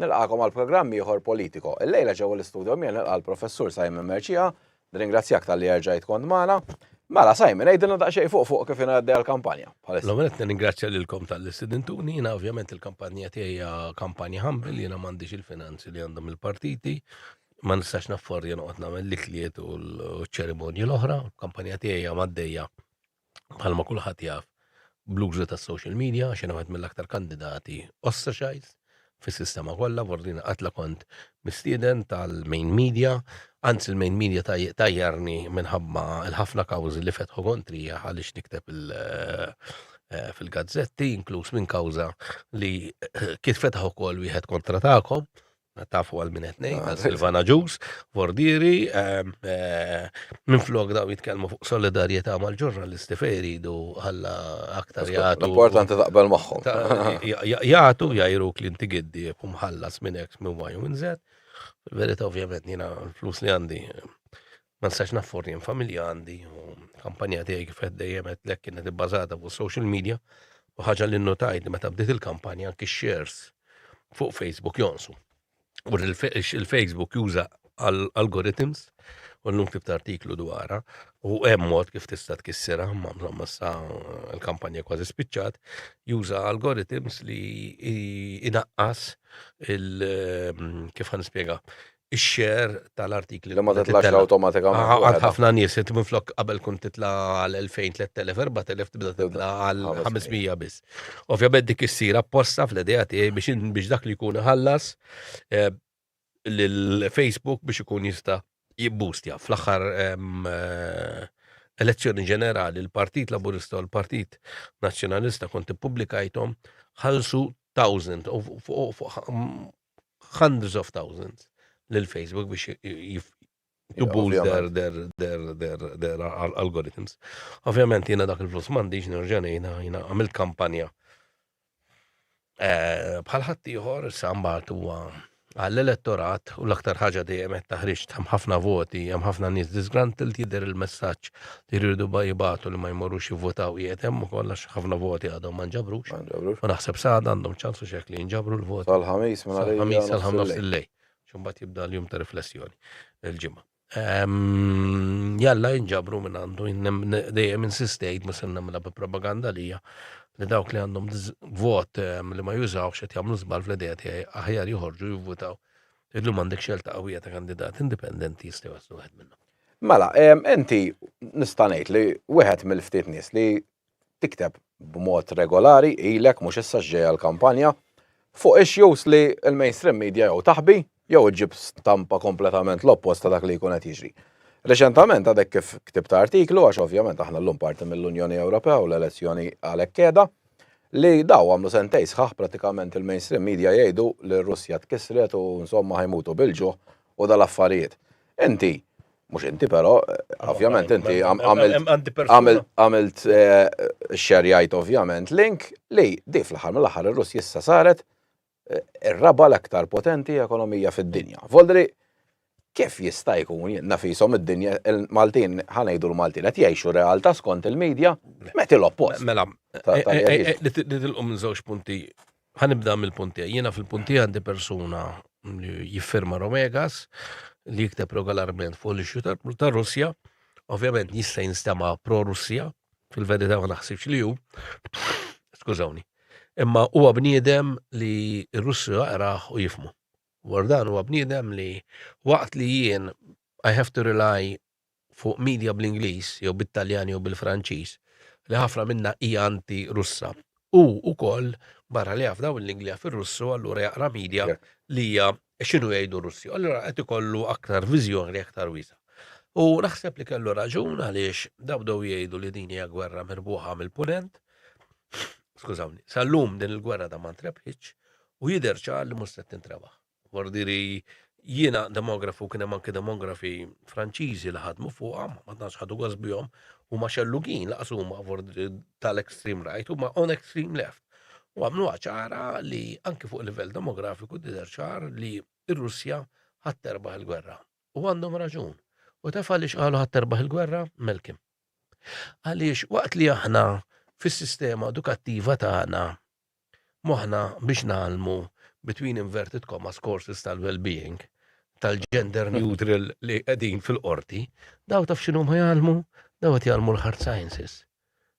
Nilqakom għal programm ieħor Politico. Illejla ġewwa l-istudio mien nilqa' l-Professur Simon Merċija, nringrazzjak tal-li erġajt kont magħna. Mela Simon, għidilna daqsxejn fuq fuq kif ingħaddi għall-kampanja. L-għonet nirringrazzja lilkom tal-li sidintuni, jiena ovvjament il-kampanja tiegħi hija kampanja humble, jiena m'għandix il-finanzi li għandhom il-partiti, ma nistax nafforja noqgħod nagħmel l-ikliet u l-ċerimonji l-oħra, kampanja tiegħi hija maddejja bħalma kulħadd jaf bl-użu tas-social media għax jiena mill-aktar kandidati ostracized fis-sistema kollha, vordina qatla kont mistieden tal-main media, anzi l-main media tajjarni minħabba l-ħafna kawżi li fetħu kontrija għaliex nikteb eh, eh, fil-gazzetti, inkluż minn kawża li eh, kif fetħu kol wieħed kontra tagħkom, Tafu għal min qed ngħid, għal Silvana Ġus, Vordieri, ehm, eh, minn flok daw jitkellmu fuq solidarjetà mal-ġurnalisti fejn iridu ħalla aktar jagħtu. Importanti taqbel magħhom. Jagħtu jajru klinti giddi u mħallas minn X minn Y minn Z. Verita ovvjament jiena flus li għandi Ma nistax naffor jien familja għandi u kampanja tiegħi kif qed dejjem qedlek kienet ibbażata fuq social media u ħaġa li nnotajt li meta bdiet il-kampanja anki shares fuq Facebook jonsu. U il-Facebook juża algorithms u l-lum kif artiklu dwarha u hemm mod kif tista' tkissirha ma mżomma sa l-kampanja kważi spiċċat, juża algorithms li inaqqas il kif ħan nispjega ix-share tal-artikli. Li ma titlax awtomatikament. Għad ħafna nies, inti minn flok qabel kun titla għal 2000, 3000, 4000 tibda titla għal 500 biss. Ovvjament dik issir apposta fl-idea tiegħi biex biex dak li jkun ħallas eh, lil Facebook biex ikun jista' jibbustja fl-aħħar eh, elezzjoni ġenerali l-Partit Laburista u l-Partit Nazzjonalista kont ippubblikajthom ħalsu 1000 u hundreds of thousands lil Facebook biex jibbuż der algorithms. Ovvjament jiena dak il-flus m'għandix nerġa' ngħidha jiena għamilt kampanja. Eh, bħal ħadd ieħor sa mbagħad huwa għall-elettorat u l-aktar ħaġa dejjem qed taħriġ hemm ħafna voti, hemm ħafna nies disgruntled jidher il-messaġġ li jridu ba jibatu li ma jmorrux jivvotaw qiegħed hemm ukoll għax ħafna voti għadhom ma nġabrux. U naħseb sada għandhom ċans u xek li jinġabru l-voti. Sal-ħamis minn għalija. Ħamis sal-ħamis il-lej. Xumbat jibda l-jum ta' riflessjoni il-ġimgħa. Ehm, jalla jinġabru minn għandu, dejjem insistejt ma senna mela bi propaganda lija li dawk li għandhom vot ehm, li ma jużawx qed jagħmlu żball fl-idea tiegħi aħjar joħorġu jivvutaw. Illum għandek xelta qawwija ta' kandidat indipendenti jistgħu jaslu wieħed minnhom. Mela, inti nista' ngħid li wieħed mill-ftit nies li tikteb b'mod regolari ilek mhux issa x'ġejja l-kampanja fuq issues li l-mainstream media jew taħbi jew iġġib stampa kompletament l-oppost ta' dak li jkun qed jiġri. Reċentament għadek kif ktibt artiklu, għax ovvjament aħna llum parti mill-Unjoni Ewropea u l-elezzjoni għalhekk qiegħda, li daw għamlu sentejn sħaħ prattikament il-mainstream media jgħidu li r-Russja tkissret u insomma ħa jmutu bil-ġuħ u dal-affarijiet. Inti, mhux inti però, ovvjament inti għamilt eh, xerjajt ovvjament link li di fl-aħħar mill-aħħar ir-Russ jissa saret eh, ir-raba l-aktar potenti ekonomija fid-dinja. Voldri, kif jista' jkun nafisom id-dinja il-Maltin ħanejdu l-Maltin qed jgħixu realtà skont il-medja meti l-oppost. Mela, eh, li tilqu minn żewġ punti Ħa nibda mill-punt tiegħi. Jiena fil-punt tiegħi għandi persuna li jiffirma Romegas li jikteb regolarment fuq l-issue tar-Russja. Ovvjament jista' jinstema' pro-Russja, fil-verità ma naħsibx li hu. Skużawni. Imma huwa bniedem li r-Russu jaqrah u jifhmu. Dwar dan huwa bniedem li waqt li jien I have to rely fuq media bl-Ingliż jew bit-Taljan jew bil-Franċiż, li ħafna minnha hija anti-Russa. Hu wkoll, barra li jaf dawn il-lingwi jaf ir-Russu, allura jaqra media li hija x'inhu jgħidu r-Russi. Allura qed ikollu aktar viżjoni aktar wiesgħa. U naħseb li kellu raġun għaliex dawn bdew jgħidu li din hija gwerra mirbuħa mill-Punent. Skużawni, sal-lum din il-gwerra da ma ntrebħitx u jidher ċar li mhux se tintrebaħ. Guardieri jiena demografu kien hemm anke demografi Franċiżi li ħadmu fuqha, ma tantx ħadu gost bihom, huma xellugin laqas huma tal-extreme right, huma on extreme left. U għamlu ċara li anke fuq livell demografiku dider ċar li r-Russja ħadd terbaħ il-gwerra. U għandhom raġun. U taf għaliex qalu ħadd terbaħ il-gwerra? Melkim. Għaliex waqt li aħna fis-sistema edukattiva tagħna moħħna biex ngħallmu between inverted commas courses tal-wellbeing tal-gender neutral li qegħdin fil-qorti, dawn taf x'inhuma jgħallmu? Dawn qed jgħallmu l-hard sciences.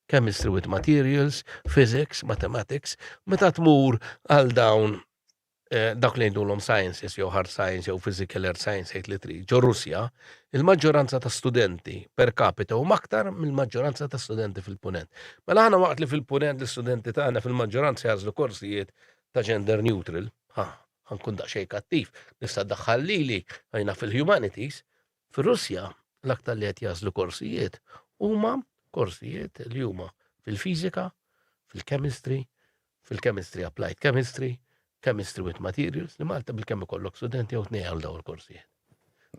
Chemistry with materials, physics, mathematics, meta tmur għal dawn dawk li ngħidulhom sciences jew hard science jew physical earth science jgħid li trid, ġo Russja, il-maġġoranza ta' studenti per capita huma aktar mill-maġġoranza ta' studenti fil-Punent. Mela aħna waqt li fil-Punent l-istudenti tagħna fil-maġġoranza jażlu korsijiet ta' gender neutral, ha, ħankun daqsxejn kattiv, nista' ddaħħal lili, għajna fil-humanities, Fir-Russja, l-aktar li qed jagħżlu korsijiet huma korsijiet li huma fil-fiżika, fil-chemistry, fil-chemistry applied chemistry, chemistry with materials, li Malta bil-kemm ikollok studenti jew tnejn għal dawn il-korsijiet.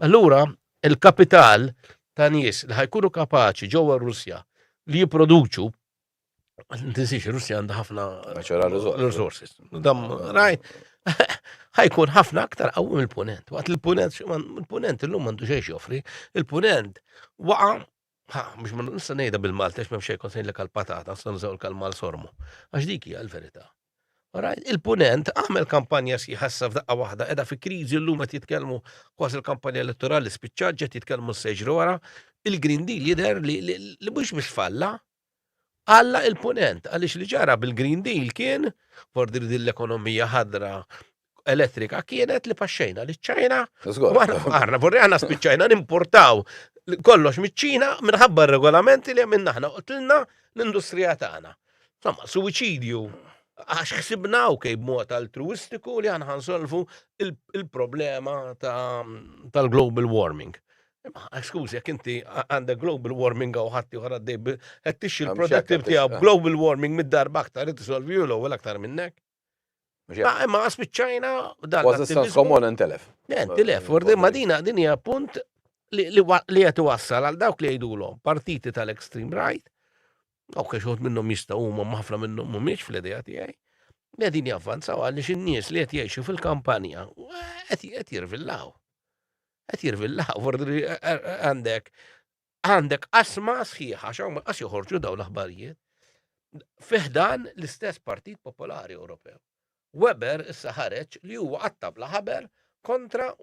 Allura, il-kapital ta' nies li ħajkunu kapaċi ġewwa r-Russja li jipproduċu Tinsiex, Russja għandha ħafna. Natural resources. Dam, rajt. ħajkun ħafna aktar qawwi mill-punent. Waqt il-punent, il-punent illum għandu xejn joffri, il-punent waqa' ħa, biex ma nista' ngħidha bil-Malta għax m'hemm xejn konsejn lek għall-patata, nista' nżew l-kalma sormu. Għax dik hija l-verità. Il-punent għamel kampanja si ħassa f'daqqa waħda, edha fi kriżi llum qed jitkellmu kważi l-kampanja elettorali spiċċaġġet jitkellmu s-seġru wara, il-Green Deal jidher li mhux biex falla, Alla il-Punent, għaliex li ġara bil-Green Deal kien, for din l-ekonomija ħadra elettrika kienet li paxxejna li ċajna u għana għarna, vorri għana spiċċajna nimportaw kollox miċ-ċina minħabba regolamenti li għamilna ħna qotlilna l-industrija tagħna. Insomma, suwiċidju għax xsibna u kej b'mod altruistiku li għan ħansolvu il-problema tal-global warming. Imma skużi jekk inti għandek global warming u ħadd ieħor għaddej qed tixxi l-productive tiegħu global warming mid-darba aktar qed isolvi u l-ewwel aktar minnek. Ah, imma għas biċċajna dan. Was is komon intelef. Intelef, urdi ma dina din hija punt li qed iwassal għal dawk li jgħidulhom partiti tal-extreme right, dawk li xogħod minnhom jistgħu huma ħafna minnhom mhumiex fl-idea tiegħi. Qegħdin javvanzaw għaliex in-nies li qed jgħixu fil-kampanja qed jirvillaw. Qed jirvilla ħafur li għandek għandek asma sħiħa xaw ma qas joħorġu daw l-aħbarijiet fiħdan l-istess Partit Popolari Ewropew. Weber issa ħareġ li huwa għattab la ħaber kontra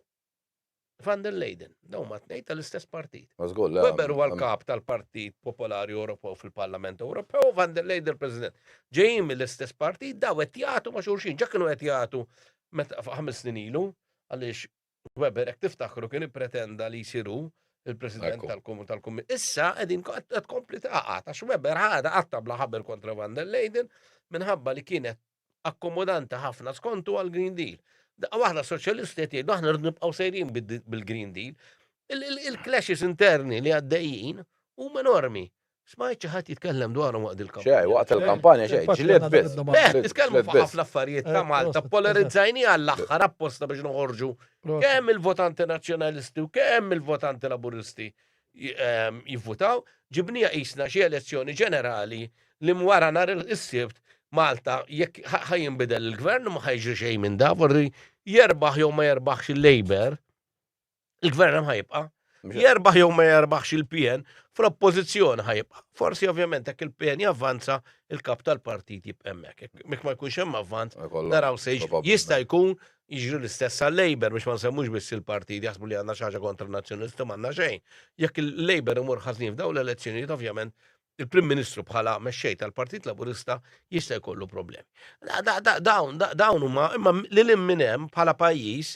Van der Leyden. Daw ma tnejn tal-istess partit. Weber huwa l-kap tal-Partit Popolari Ewropew fil-Parlament Ewropew, Van der Leyden president. Ġejjin mill-istess partit daw qed jagħtu ma' xulxin, ġa kienu qed jagħtu meta ħames snin ilu għaliex Weber, jekk tiftakru, kien ippretenda li jsir hu il-President tal-Kummissjoni. Issa qegħdin qed tkompli taqgħad għax Weber ħadha qatta' bla ħaber kontra van der Leyden minħabba li kienet akkomodanti ħafna skontu għall-Green Deal. Daqqa waħda soċjalisti qed jgħidu aħna rridu nibqgħu sejrin bil-Green Deal. Il-clashes interni li għaddejjin huma enormi. Smajt xi ħadd jitkellem dwarhom waqt dil-kampanja. X'għid, waqt il-kampanja x'għid, ġlied biss. Beh, titkellmu fuq ħafna affarijiet ta' Malta, ppolarizzajniha għall-aħħar apposta biex noħorġu kemm il-votanti Nazzjonalisti u kemm il-votanti Laburisti jivvutaw, ġibniha qisna xi elezzjoni ġenerali li wara nhar is-Sibt Malta jekk ħa jinbidel il-Gvern u ma ħa jiġri xejn minn dan, forsi jerbaħ jew ma jerbaħx il-Labour, Il-gvern hemm ħajibqa'. Jerbaħ jew ma jerbaħx il-PN, fl-oppożizzjoni ħajibqa'. Forsi ovvjament hekk il-PN javvanza il-kap tal-partit jibqa' hemmhekk. Mek ma jkunx hemm avvanz, naraw se jista' jkun jiġri l-istess għal-Labor biex ma nsemmux biss il-partit jaħsbu li għandna xi ħaġa kontra n-nazzjonisti m'għandna xejn. Jekk il-Labor imur ħażin f'dawn l-elezzjonijiet ovvjament il-Prim Ministru bħala mexxej tal-Partit Laburista jista' jkollu problemi. Dawn huma imma lil minn hemm bħala pajjiż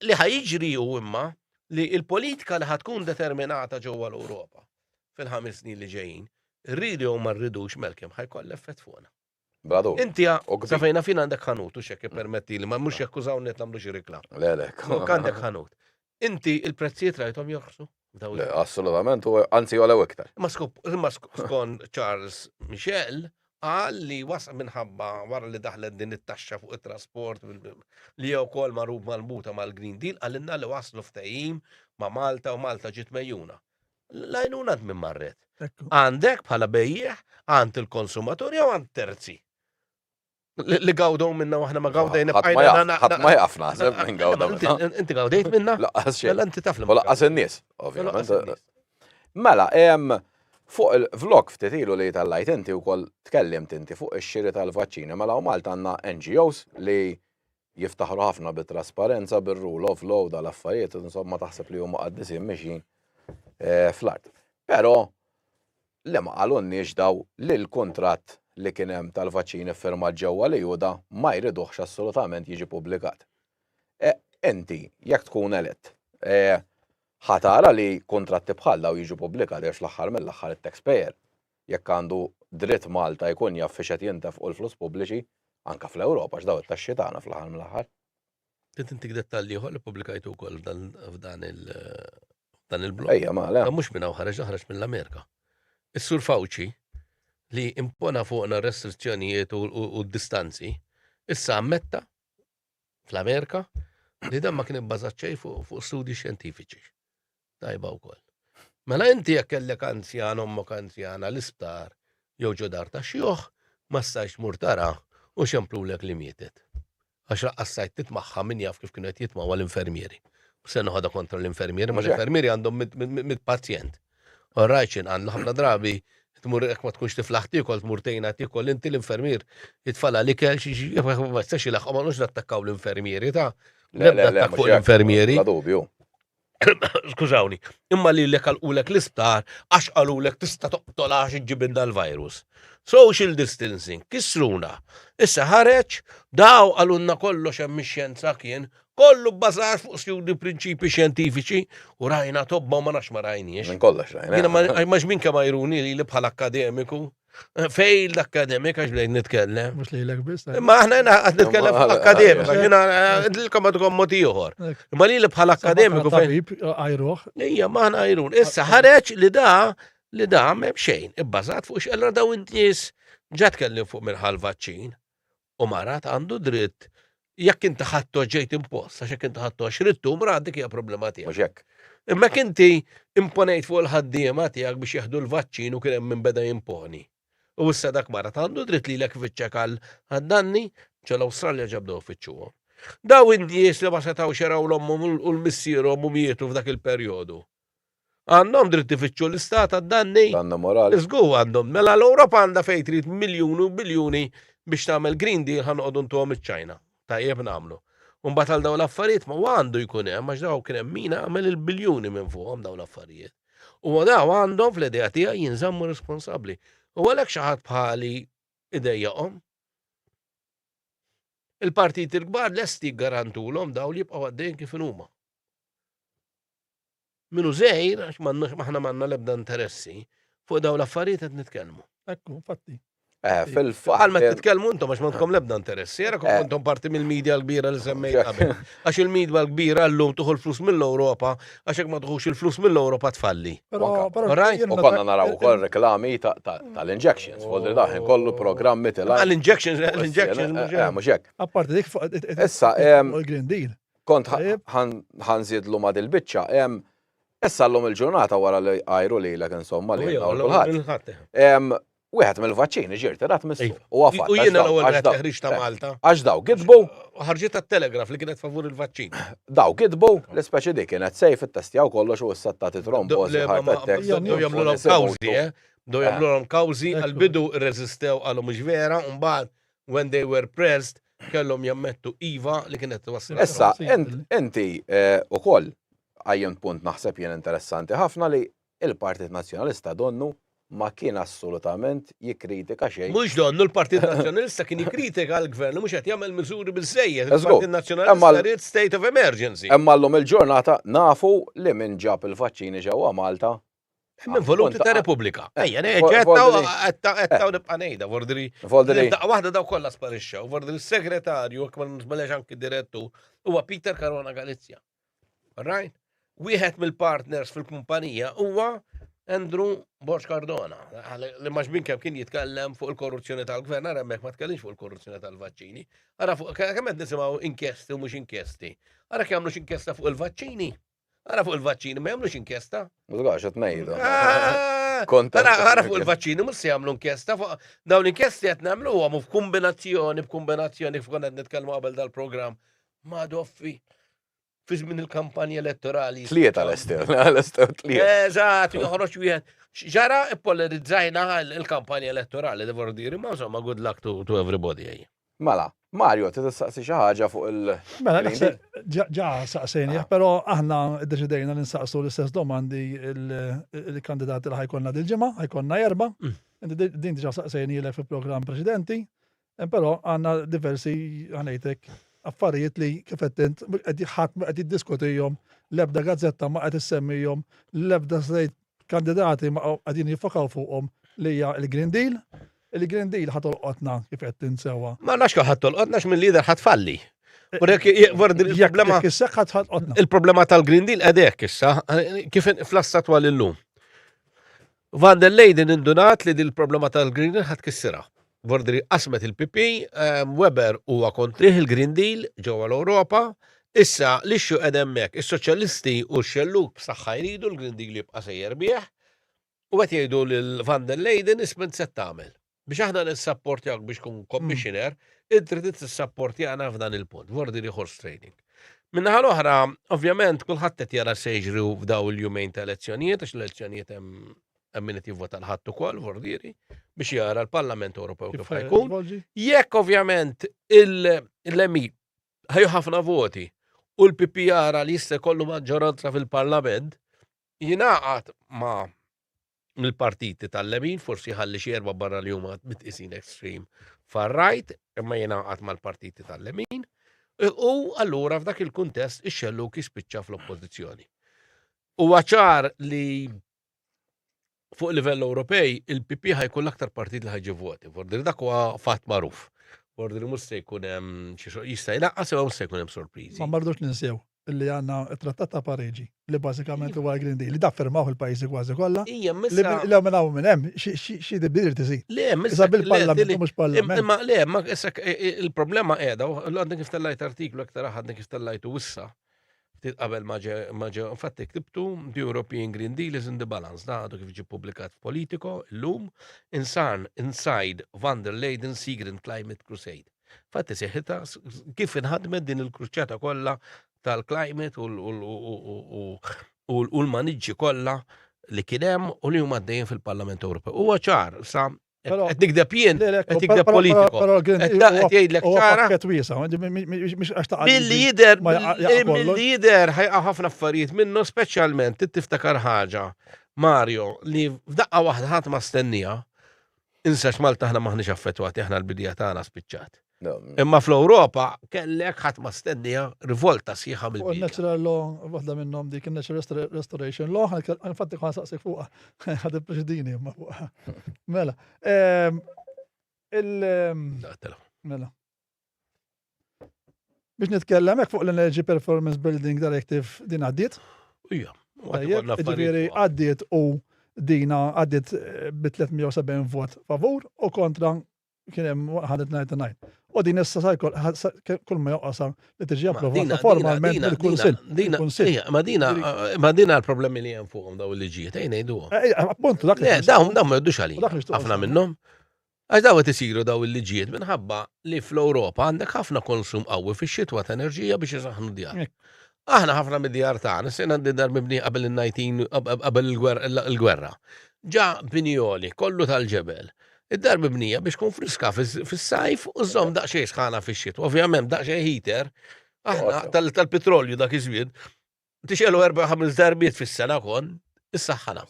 li ħa jiġri hu imma li l-politika li ħa tkun determinata ġewwa l-Ewropa fil-ħames snin li ġejjin, rridu jew ma rridux Malcolm ħa jkollha effett fuqna. Bla dubju. Inti sa fejn naf jien għandek ħanut u x'hekk ippermettili, ma mhux jekk użawni qed nagħmlu xi reklam. Le le. Għandek ħanut. Inti l-prezzijiet rajthom jorħsu? Le, assolutament, anzi jolew iktar. Imma skon Charles Michel, qal li was minħabba wara li daħlet din it-taxxa fuq it-trasport li jew kol marub mal-muta mal-Green Deal għalinna li waslu ftehim ma' Malta u Malta ġiet mejjuna. Lajnuna minn marret. Għandek bħala bejjieħ għand il-konsumaturi jew għand terzi. Li gawdaw minna waħna ma gawdejna bqajna. Ħadd ma jaf naħseb minn gawdaw. Inti gawdejt minna? Laqqas xejn. Mela inti taf li. Laqqas in-nies, ovvjament. Mela, fuq il-vlog ftit ilu li tal-lajt inti wkoll tkellimt inti fuq ix-xiri tal-vaċċini. Mela u Malta għandna NGOs li Jiftaħru ħafna bit-trasparenza, bir-rule of law, dal-affarijiet, insomma taħseb li huma qaddisin mixjin eh, fl-art. Però li ma qalunniex daw li l-kuntratt li kien hemm tal-vaċċin iffirmat ġewwa li Juda ma jriduhx assolutament jiġi pubblikat. E, inti, jekk tkun elett, e, ħatara li kontratti bħal daw jiġu pubblikat għax l-aħħar mill-aħħar it-taxpayer Jekk għandu dritt Malta jkun jaf fiex qed jintefqu l-flus pubbliċi, anke fl-Ewropa għax dawn it-taxxi tagħna fl-aħħar mill-aħħar. Irrid intik dettall ieħor li ppubblikajtu wkoll f'dan il-blog. Ejja, ma le. Dan mhux minn hawn ħareġ, dan ħareġ mill-Amerika. Is-Sur Fauci li impona fuqna r-restrizzjonijiet u d-distanzi, issa ammetta fl-Amerika, li dan ma kien ibbażat xejn fuq studji xjentifiċi. Tajba wkoll. Mela inti jekk kellek anzjan ommok anzjana l-isptar jew ġo dar ta' xjuħ, ma stajx mur tara u xemplulek li mietet. Għax laqqas sajt titmaħħa min jaf kif kienu qed jitmawa l-infermieri. Se noħodha kontra l-infermieri, ma l-infermieri għandhom mit-pazjent. Orajt x'inhu għandna ħafna drabi tmur jekk ma tkunx tiflaħ tiekol tmur tgħinha tiekol inti l-infermier jitfalha l-ikel xi xi ma jistax ilaħħqu ma nux nattakkaw l-infermieri ta' l-ebda attakk fuq l-infermieri. La dubju. skużawni, imma li l-ek għal-ulek l-isptar, għax għal-ulek tista toqtol għax ġibin dal-virus. Social distancing, kisruna. Issa ħareċ, daw għalunna kollox hemm xjenza kien, Kollu bbażat fuq stjudi u prinċipji xjentifiċi u rajna tobba u ma nafx ma rajniex. Minn kollox rajna. Jiena ma eh. ma x'min kemm ajruni li li bħala akkademiku. Eh, failed academic għax bdejt nitkellem. Mhux lilek biss. eh. Imma aħna jena għad nitkellem fuq akkademika, jena għadilkom għadkom moti uħor. Imma li li bħala akkademiku fejn. Tabib, għajruħ. Ija, maħna għajrun. Issa ħareċ li da, li da mem xejn, ibbażat fuq xella daw id-nies ġat kellim fuq minn ħal-vaċċin. u mara għandu dritt jekk inti ħadt għax ġejt impost, għax jekk inti ħadd għax ridtu mra dik hija problema tiegħek. Mhux hekk. Imma jekk inti imponejt fuq il-ħaddiema tiegħek biex jieħdu l-vaċċin u kien hemm min beda jimponi, u issa dak mara għandu dritt lilek ifittxek għad-danni, ġo l-Awstralja ġa bdew ifittxuhom. Dawn in-nies li ma setgħux jaraw l-ommhom u l-missierhom u mietu f'dak il-perjodu. Għandhom dritt ifittxu l-istat għad-danni? Danna morali. Żgur għandhom. Mela l-Ewropa għandha fejn trid miljuni u biljuni biex tagħmel Green Deal ħa noqogħdu ntuhom iċ-Ċina. Tajjeb nagħmlu. U mbagħad għal dawn l-affarijiet ma għandu jkun hemm għax dawn kien hemm min għamel il-biljuni minn fuqhom dawn l-affarijiet. U dawn għandhom fl-idea tiegħi jinżammu responsabbli. U għalhekk xi ħadd bħali idejjaqhom. Il-partiti l-kbar lesti jiggarantulhom dawn li jibqgħu għaddejjin kif inhuma. Minnu żgħir, għax m'għandna aħna m'għandna l-ebda interessi, fuq dawn l-affarijiet qed nitkellmu. Ekku, infatti. Eh, fil-fatt. Għal ma titkellmu intom għax m'għandkom l-ebda interessi, era eh. intom parti mill-medja l-kbira li semmejt qabel. Għax il-medja l-kbira llum tuħu l-flus mill-Ewropa, għax hekk ma tuħux il-flus mill-Ewropa tfalli. U konna naraw ukoll reklami tal-injections, folder daħin kollu programmi tilgħab. L-injections, l-injections. Eh, mhux hekk. Apparti dik fuq il-Green Deal. Kont ħan zidlu ma dil-bicċa, issa l-lum il-ġurnata wara li għajru li l-ek insomma li l-ħat. Wieħed mill-vaċċini ġirti rat missu. Iva. U għafat. U jiena l-ewwel qed teħriġ ta' Malta. Għax daw gidbu. Ħarġiet tat-telegraf li kienet favur il-vaċċin. Daw gidbu, l-ispeċi dik kienet sejf it-testjaw kollox u issa ta' titromboż. Jew jagħmlu l-kawżi, eh? Do jagħmlu l-kawżi għal-bidu rreżistew għalhom mhux vera, u mbagħad when they were pressed, kellhom jammettu iva li kienet twassal. Issa, inti eh, ukoll għajjem punt naħseb jien interessanti ħafna li il-Partit Nazzjonalista donnu ma kien assolutament jikkritika xejn. Mhux donnu l-Partit Nazzjonalista kien jikkritika l-Gvern li mhux qed jagħmel miżuri biżejjed. Il-Partit Nazzjonalista rrid state of emergency. Imma llum il-ġurnata nafu li min ġab il-vaċċini ġewwa Malta Hemm involuti ta' Repubblika. Ejja, ġettaw għettaw eh. nibqa' ngħidha, Vordri. Vordri. Daqqa waħda daw kollha sparixxew. Vordri s-segretarju, jekk ma nisbalex anki direttu, huwa Peter Carona Galizja. Right? Wieħed mill-partners fil-kumpanija huwa Andrew Borx Cardona, li maġbin kemm kien jitkellem fuq il-korruzzjoni tal-gvern, għara mek ma tkellimx fuq il-korruzzjoni tal-vaċċini, għara fuq kemm qed nisimgħu inkjesti u mhux inkjesti. Għara kemm mhux inkjesta fuq il-vaċċini. Ara fuq il-vaċċini, ma jagħmlux inkjesta. Mużgax, qed ngħidu. Ah! Konta. Ara fuq il-vaċċini, mhux se jagħmlu inkjesta fuq dawn l-inkjesti qed nagħmlu huwa f'kombinazzjoni, b'kombinazzjoni f'kun qed nitkellmu qabel dal-programm. Ma doffi fi żmien il-kampanja elettorali. Tlieta l-ester, l-ester tlieta. Eżatt, joħroġ wieħed. Ġara ippolarizzajna il-kampanja elettorali, devoru diri, ma insomma, good luck to, to everybody. Mela, Mario, trid tistaqsi xi ħaġa fuq il- Mela, naħseb ġa- ġa saqsejnih, Ah. però aħna ddeċidejna li nsaqsu l-istess domandi il- il-kandidati li ħajkonna dil-ġimgħa, ħajkonna erba'. Mm. Inti di- Din diġà saqsejnielek fil-programm preċedenti, eh, però għandna diversi ħanejtek affarijiet li kif qed int qed jħadd ma qed jiddiskutihom, l-ebda gazzetta ma qed issemmihom, l-ebda slejt Kandidati ma qegħdin jiffokaw fuqhom li hija l-Green Deal. Il-Green Deal ħa tolqotna kif qed tinsewwa. Ma nafx kemm ħadd tolqotna x'minn lider ħadd falli. Il-problema tal-Green Deal għedek issa, kif fl-assat għal illum. Van der Leyden indunat li dil-problema tal-Green Deal ħat kissira. Vordri qasmet il-PP, ehm, Weber huwa kontrih il-Green Deal ġewwa l-Ewropa, issa l-ixxu qed hemmhekk, is-soċjalisti u x-xellug b'saħħa jridu l-Green Deal jibqa' sejjer bih, u qed jgħidu lil Van der Leyden isment se tagħmel. Biex aħna nissapportjawk biex tkun commissioner, inti trid tissapportjana f'dan il-punt, vordiri horse trading. Minnaħa l-oħra, ovvjament, kulħadd qed jara se jiġri f'daw il-jumejn ta' elezzjonijiet, għax l-elezzjonijiet hemm hemm min qed jivvota l-Ħadd ukoll vordieri biex jara l-Parlament Ewropew kif ħajkun. Jekk ovvjament il-lemi ħajju ħafna voti u l-PP jara li jista' jkollu maġġoranza fil-Parlament jingħaqad ma' mill-partiti tal-lemin, forsi ħalli xi erba' barra li huma mitqisin extreme far-right, imma jingħaqad mal-partiti tal-lemin. U allura f'dak il-kuntest ix-xelluk jispiċċa fl-oppożizzjoni. U ċar li fuq livell Ewropej il-PP ħajkun l-aktar partit li ħajġi voti. Vordi li dak huwa fatt magħruf. Vordi li mhux se jkun hemm xi xogħol jista' jnaqqas jew mhux se jkun hemm sorpriżi. Ma mardux ninsew li għandna t-Trattat ta' Pariġi li bażikament huwa l-Green Deal li da firmaw il-pajjiżi kważi kollha. Ija, missa. Li lew minn hawn minn hemm xi dibdir tiżid. Le, missa. Issa bil-parlament mhux parlament. Imma le, ma issa il-problema qiegħda, għandek kif tellajt artiklu aktar aħad kif tellajtu issa. Ftit qabel ma ġe, ma ġe, infatti ktibtu The European Green Deal is in the balance, da għadu kif ġie publikat f'Politico illum, insan inside van der Leyden Seagreen Climate Crusade. Fatti seħita kif inħadmet din il-kruċċata kollha tal-climate u l-maniġġi kollha li kien hemm u li huma għaddejjin fil-Parlament Ewropew. Huwa ċar sa Però- Qed nikdeb jien, Le, le, qed nikdeb però- politiku. però- però l-Green Qed Deal huwa- qed jgħidlek huwa ċara. pakket wiesa, ma- mi- mi- mi- mhux għax taqal- Billi jider, ma jaqa- jaqa' eh, kollox. billi jider ħajqa ħafna affarijiet minnu, speċjalment trid tiftakar ħaġa, Mario, li f'daqqa waħda ħadd ma stennija, insax Malta aħna maħniex affettwati, aħna l-bidja tagħna spiċċat. Imma fl-Ewropa kellek ħadd ma stennija rivolta sħiħa mill Fuq natural law, waħda minnhom dik natural restoration law, infatti kħan saqsik fuqha, ħad ippreċedini imma fuqha. Mela. Ehm, il ehm, Mela. Biex nitkellem hekk fuq l-Energy Performance Building Directive din għaddiet? Ija. Ġifieri għaddiet u dina għaddiet eh, bi 370 vot favur u kontra kien hemm 199. U din issa sa jkoll kull ma joqgħosha li tiġi approvata formalment mill-Kunsill. Mill-Kunsill. Ma dina ma dina l-problemi li hemm fuqhom daw il-liġijiet ejn ngħidu. Appunt dak. Le dawn dawn ma jgħidux għalih. Ħafna minnhom. Għax daw qed isiru daw il-liġijiet minħabba li fl-Ewropa għandek ħafna konsum qawwi fix-xitwa ta' enerġija biex isaħħnu djar. Aħna ħafna mid-djar tagħna se ngħaddi dar mibnija qabel in-19 qabel il-gwerra. Ġa binioli, kollu tal-ġebel. Id-dar mibnija biex tkun friska fis-sajf u żomm daqsxejn sħana fix-xitwa. Ovvjament daqsxejn heater, aħna tal-petrolju dak iż-żmien, tixgħelu erba' ħames darbiet fis-sena kon, issaħħana.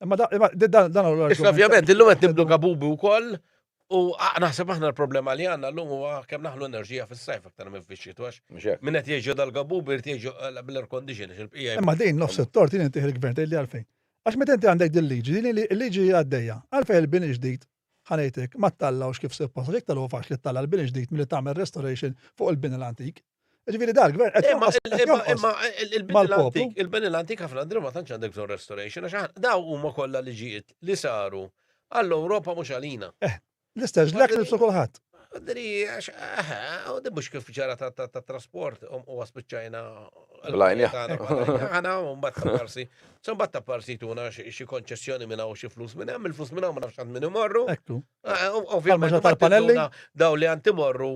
Imma da- imma di- dan dan huwa Issa l-argument. ovvjament illum qed nibdu gabubu wkoll u a- naħseb aħna l-problema li għandna llum huwa kemm naħlu enerġija fis-sajf aktar minn fix-xitwa għax Mhux hekk. min qed jgħixu dal-gabubu jrid jgħixu eh, bil-air condition għax il-bqija Imma din nofs it-tort din intih il-gvern tgħidli għalfejn. Għax meta inti għandek din liġi, din il- il-liġi hija għaddejja, għalfejn il-bini ġdid Ħa ngħidlek, ma ttallgħux kif suppost għax iktar hu faċli ttalla' l-bini ġdid milli tagħmel restoration fuq il-bini l-antik. Jiġifieri dan il-gvern qed jonqos. Imma il-bini l-antik ħafna drabi ma tantx għandek bżonn restoration għax daw huma kollha liġijiet li saru għall-Ewropa mhux għalina. Eh, l-istess ġlekk li kulħadd. Dri, għax, aha, u di mux kif ġara ta' ta' ta' trasport, um, u għaspiċċajna. Blajn, ja. Għana, un bat ta' parsi. Sun bat ta' parsi tuna xie konċessjoni minna u xie flus minna, mill flus minna u ma nafx għand minn imorru. Ektu. Ah, um, ovvijament, Għalma tal-panelli? daw li għand imorru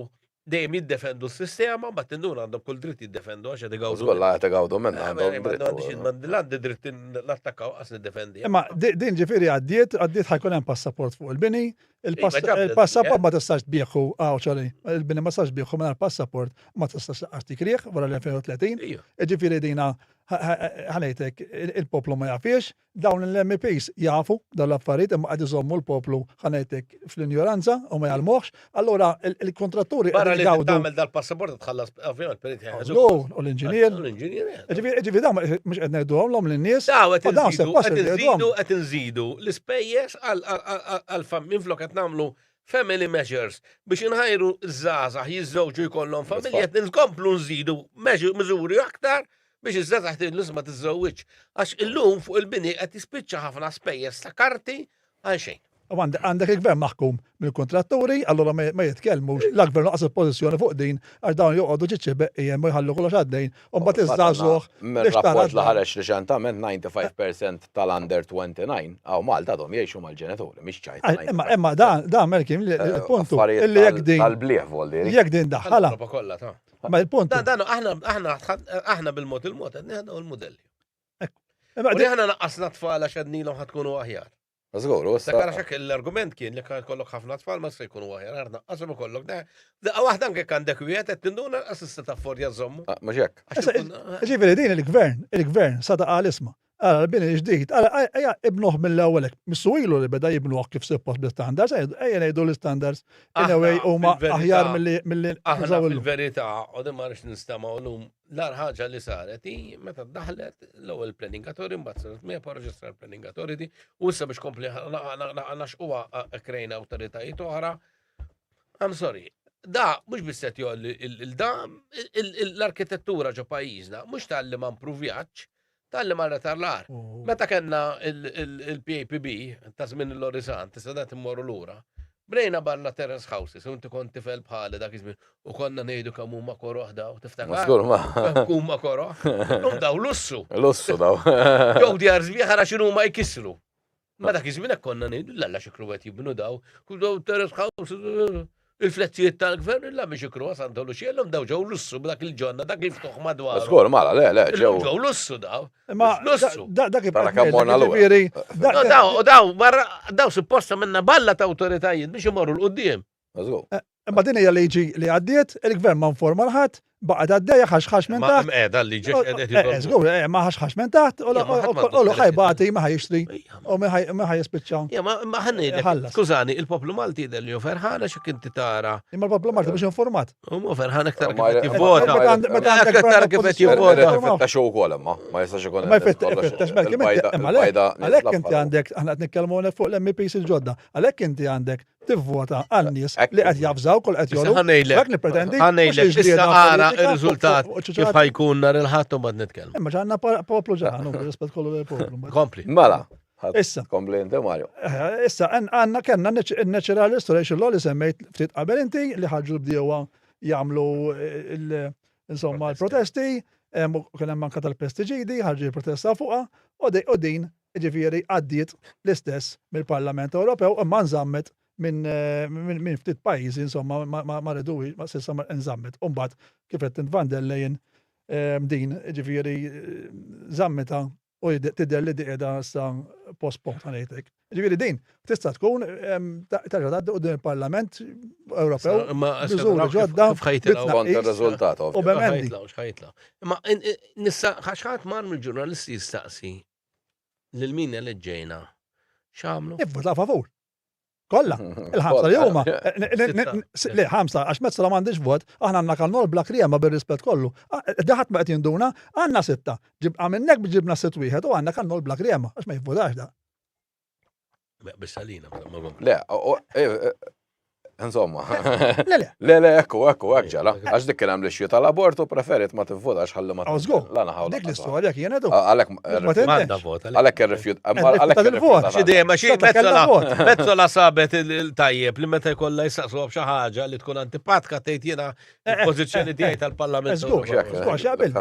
dejjem jiddefendu s-sistema, bat tinduna għandhom kull dritt jiddefendu għax għed għawdu. Zgolla għed għawdu minna Ah, għandhom. dritt, Għandix u- id-mandi l-għandi dritt l-attakkaw għas niddefendi. Imma di- din ġifiri għaddiet, għaddiet ħajkun hemm passaport fuq il-bini, Il-passaport ma tistax tbieħu, għaw ċali, il-bini ma tistax tbieħu minn passaport ma tistax laqqas tikriħ wara l-2030. Ġifiri dina, ħanajtek, il-poplu ma jafiex, dawn l-MPs jafu dawn l-affarijiet imma għad iżommu l-poplu ħanajtek fl-injoranza u ma jalmuħx. Allora, il-kontratturi. Barra li tagħmel dal-passaport tħallas Ovvijament, per L-un u l-inġinier. L-inġinier. Ġivi da, mux għedna jiddu għamlom l-nis. Da, għed nżidu l-spejjes għal-fammin flok għed namlu family measures biex inħajru z-zazah jizzewġu jkollhom familja qed nkomplu nżidu miżuri aktar biex iż-żazax tiżma tiżżewġ. Għax illum fuq il-bini qed jispiċċa ħafna spejjeż ta' karti għalxejn. U għandek il-Gvern maħkum mill-kuntratturi, allura ma jitkellmux, la Gvern laqas il-pożizzjoni fuq din għax dawn joqogħdu ġiċċi beqqiem u jħallu kollox għaddejn, u mbagħad iż-żagħżugħ. Mir-rapport li ħareġ riċentament 95% tal-under 29 hawn Malta għadhom jgħixu mal-ġenituri, mhix ċajta. Imma imma dan dan Melkim il-punt li jekk din. Tal-blieh voldi. Jekk din daħħala. Ma il-punt. Dan aħna aħna aħna bil-mod il-mod qed nieħdu l-mudelli. U li ħana naqqasna tfal għax għadnilhom ħatkunu aħjar. Żgur, u issa. Għara xek l-argument kien li kan kollok ħafna tfal ma se jkunu aħjar, għar naqqashom ikollok da. Daqqa waħda anke kan dek wieħed qed tinduna assista ta' fordja żommu. Ah, mhux hekk. Ġifieri din il-gvern, il-gvern sa ta' isma. Għara l-bini ġdid, għara għajja ibnuħ mill-ewwelek, missu ilu li beda jibnuħ kif suppost bl-standards, għajja ngħidu l-standards, anyway huma aħjar mill-li. Aħna fil-verità, u dimma nistamaw l-lum L-ar ħaġa li saret hi meta daħlet l-ewwel planning authority mbagħad saret MEPA reġistrar planning authority u issa biex kompli naxquha krejna awtoritajiet oħra. I'm sorry, da mhux biss qed jolli il-da l-arkitettura ġo pajjiżna mhux tal-li ma mpruvjaċ Talli marret għar l-għar. Meta kellna il-PAPB ta' żmien il-Lorizant, issa dat immorru lura, bnejna barna terrace houses u inti kont tifel bħali dak iż-żmien u konna ngħidu kemm huma koroh daw, tiftakar? Ma żgur ma. Kemm huma koroh. Illum daw lussu. Lussu daw. Jew djar sbieħ ara x'inhuma jkissru. Ma dak iż-żmien hekk konna ngħidu l-alla xikru qed jibnu daw, kull daw terrace house, il-flettijiet tal-gvern illa biex ikru għasan tollu xiellhom daw ġew lussu b'dak il-ġonna dak li ftuħ madwar. Żgur, mala, le, le, ġew. Ġew lussu daw. Ma lussu. Dak Tara kemm morna l ġifieri. Daw, daw, barra, daw supposta minna balla ta' awtoritajiet biex imorru l-qudiem. Imma din hija liġi li għaddiet, il-gvern ma informa l-ħadd, baqgħet għaddejja ħaxħax minn taħt. Ma qiegħda l-liġi qiegħda. Żgur, eh, ma ħaxħax minn taħt u l ħajbati ma ħajxtri u ma ħajispiċċa. Ma ħannejdek. Skużani, il-poplu Malti jidher li ferħana xi kien tara. Imma l-poplu Malti biex informat. Imma ferħana aktar kif jivvota. Meta aktar kif qed jivvota. Fetta xi wkoll imma ma jistax ikun. Ma jfettax mela, għalhekk inti għandek aħna qed nitkellmu fuq l-MPs il-ġodda. Għalhekk inti għandek tivvota għan-nies li qed jafżawk u li qed jollu. Dak nippretendi. Ħa ngħidlek issa ara r-riżultat kif ħajkun nhar il-Ħadd u mbagħad nitkellmu. Imma ġanna poplu ġan, rispett kollu lil poplu. Kompli. Mela. Issa. Kompli inti Mario. Eh, issa għandna kellna n-natural restoration law li semmejt ftit qabel inti li ħarġu bdiewa jagħmlu eh, insomma l-protesti, kien hemm anke tal-pestiġidi, ħarġu l-protesta fuqha u din jiġifieri għaddiet l-istess mill-Parlament Ewropew imma nżammet minn ftit pajjiżi insomma ma riduhiex ma s'issa nżammet. U mbagħad kif qed int van der Leyen ehm, din jiġifieri żammitha u tidher li qiegħda issa postpone ta' ngħidlek. Jiġifieri din tista' tkun ehm, terġa' tgħaddi quddiem il-Parlament Ewropew miżuri ġodda bit-tnaqqis u b'emendi. Imma nissa ħaxħat mar mill-ġurnalisti jistaqsi Lil min eleġġejna? X'għamlu? Ivvutaw favur. Kollha, il-ħamsa li huma. Le, ħamsa, għax Metzola m'għandix vot, aħna għandna Kannol bla Kriema bir-rispett kollu. Daħat ma qed jinduna, għandna sitta. Ġibqa' minnek biex ġibna sitt wieħed u għandna Kannol bla Kriema, għax ma jivvutax da. Biss għalina, ma ma. Le, insomma. Le, le. Le, le, ekku, ekku, ekk ġala. Għax dik kien hemm li xjita l-abortu preferit ma tivvotax ħalli ma. Għazgu. La naħaw. Dik l-istorja kien għadu. Għalek. Manda vota. Għalek irrifjut. Għalek il-vot. Xidej, ma xie mezzola. Mezzola sabet il-tajjeb li meta jkollha jistaqsu xi ħaġa li tkun antipatka tgħid jiena pożizzjoni tiegħi tal-Parlament. Għax jaqbil.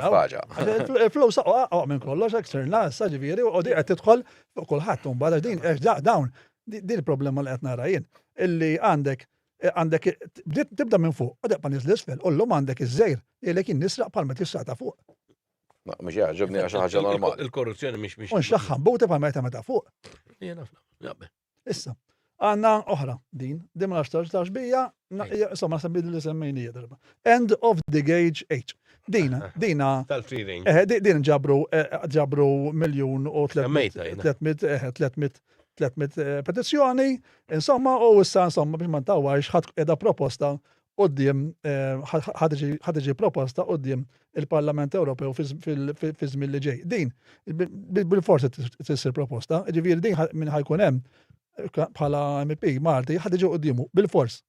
Flow saqqa minn kollox eksternal, sa ġifieri u qogħdi qed tidħol Fuq kulħadd imbagħad għax din għax dawn din il-problema li qed nara jien illi għandek għandek tibda minn fuq u debqa' niżel isfel u llum għandek iż-żejr jgħidlek jien nisraq bħal meta jisraq ta' fuq. Mhux jgħaġġibni għax ħaġa normali. Il-korruzzjoni mhix mhix. U nxaħħan buti bħal meta meta fuq. Jien ħafna. Issa, Għandna oħra din, din ma nafx tax bija, insomma naħseb li li semmejni hija darba. End of the gauge age. Din, din. Tal-free range. Eh, din ġabru eh, ġabru miljun u 300 300 eh, petizzjoni, insomma, u issa insomma biex ma ntawwajx ħadd qiegħda proposta quddiem ħa tiġi proposta quddiem il-Parlament Ewropew fi żmien li ġej. Din bil-forsi tissir proposta, ġifieri din minn ħajkun hemm bħala MP Malti ħad iġi quddiemu bil-fors.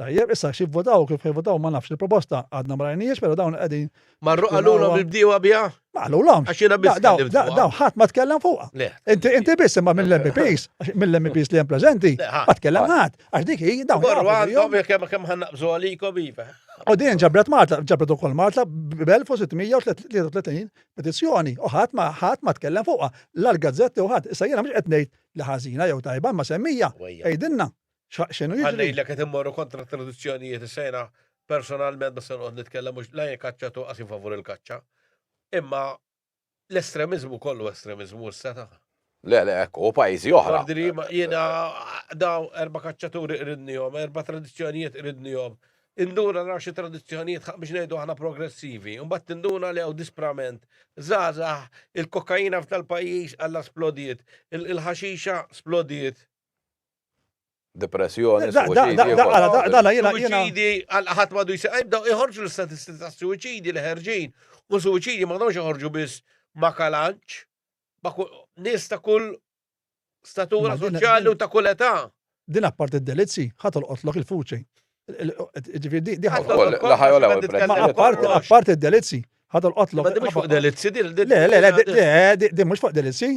Tajjeb, issa xi votaw kif votaw ma nafx il-proposta għadna ma rajniex, però dawn qegħdin Marru qalulhom il-bdiewa biha? Ma qalulhom. Għax jiena biss tkellimt fuqha. Daw ħadd ma tkellem fuqha. Le. Inti inti biss imma mill-MPs, mill-MPs li hemm preżenti, ma tkellem ħadd. Għax dik hi dawn. Marru għandhom jekk hemm kemm ħannaqbżu għalikom iva. U din ġabret Malta, ġabret ukoll Malta b'1633 petizzjoni u ħadd ma ħadd ma tkellem fuqha. L-gazzetti u ħadd, issa jiena mhux qed ngħid li ħażina jew tajba ma semmija. Għidilna. X'aqxen u jiġri. Ħa ngħidlek qed immorru kontra t-tradizzjonijiet issa jiena personalment ma se noqgħod nitkellem mhux la jien kaċċat u qas favur il-kaċċa. Imma l-estremiżmu kollu estremiżmu issa ta'. Le, le, hekk hu pajjiżi oħra. Jiena daw erba' kaċċaturi qridnihom, erba' tradizzjonijiet qridnihom. Induna naraw xi tradizzjonijiet biex ngħidu aħna progressivi. Imbagħad tinduna li hawn disprament. Żgħażagħ, il-kokaina f'dal-pajjiż għalla splodiet, il-ħaxixa splodiet. depressjoni, suwiċidji. Suwiċidji għal ħadd m'għadu jsir. Jibdew iħorġu l-istatistiċi ta' suwiċidji li ħerġin u suwiċidji ma għadhomx iħorġu biss ma' kalanċ, ma' nies ta' kull statura soċjali u ta' kull età. Din apparti d-delizzi, ħadd olqotlok il-fuċi. Ġifieri di ħadd. Ma apparti d-delizzi, ħadd olqotlok. Ma di mhux fuq delizzi, di mhux fuq delizzi.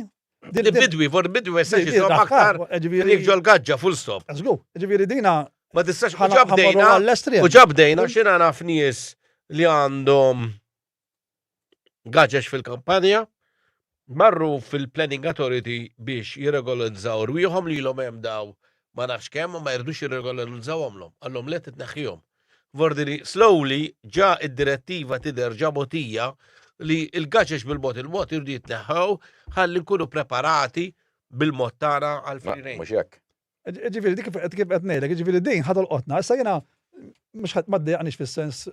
Din bidwi for bidwi ma jistax jisom aktar jekk ġol-gaġġa full stop. Żgur, ġifieri dina ma tistax u ġabdejna u ġabdejna x'ina naf nies li għandhom gaġex fil-kampanja marru fil-planning authority biex jirregolarizzaw rwieħhom lilhom hemm daw ma nafx kemm, ma jridux jirregolarizzawhomlhom. Qalhom le titneħħihom. F'ordini slowly ġa d-direttiva tidher ġa mogħtija li l-gaġeġ bil-mod il-mod iridu jitneħħew ħalli nkunu preparati bil-mod tagħna għal free range. Mhux hekk. Jiġifieri dik kif qed ngħidlek, jiġifieri din ħa tolqotna. Issa jiena mhux ħadd ma ddejjaqniex fis-sens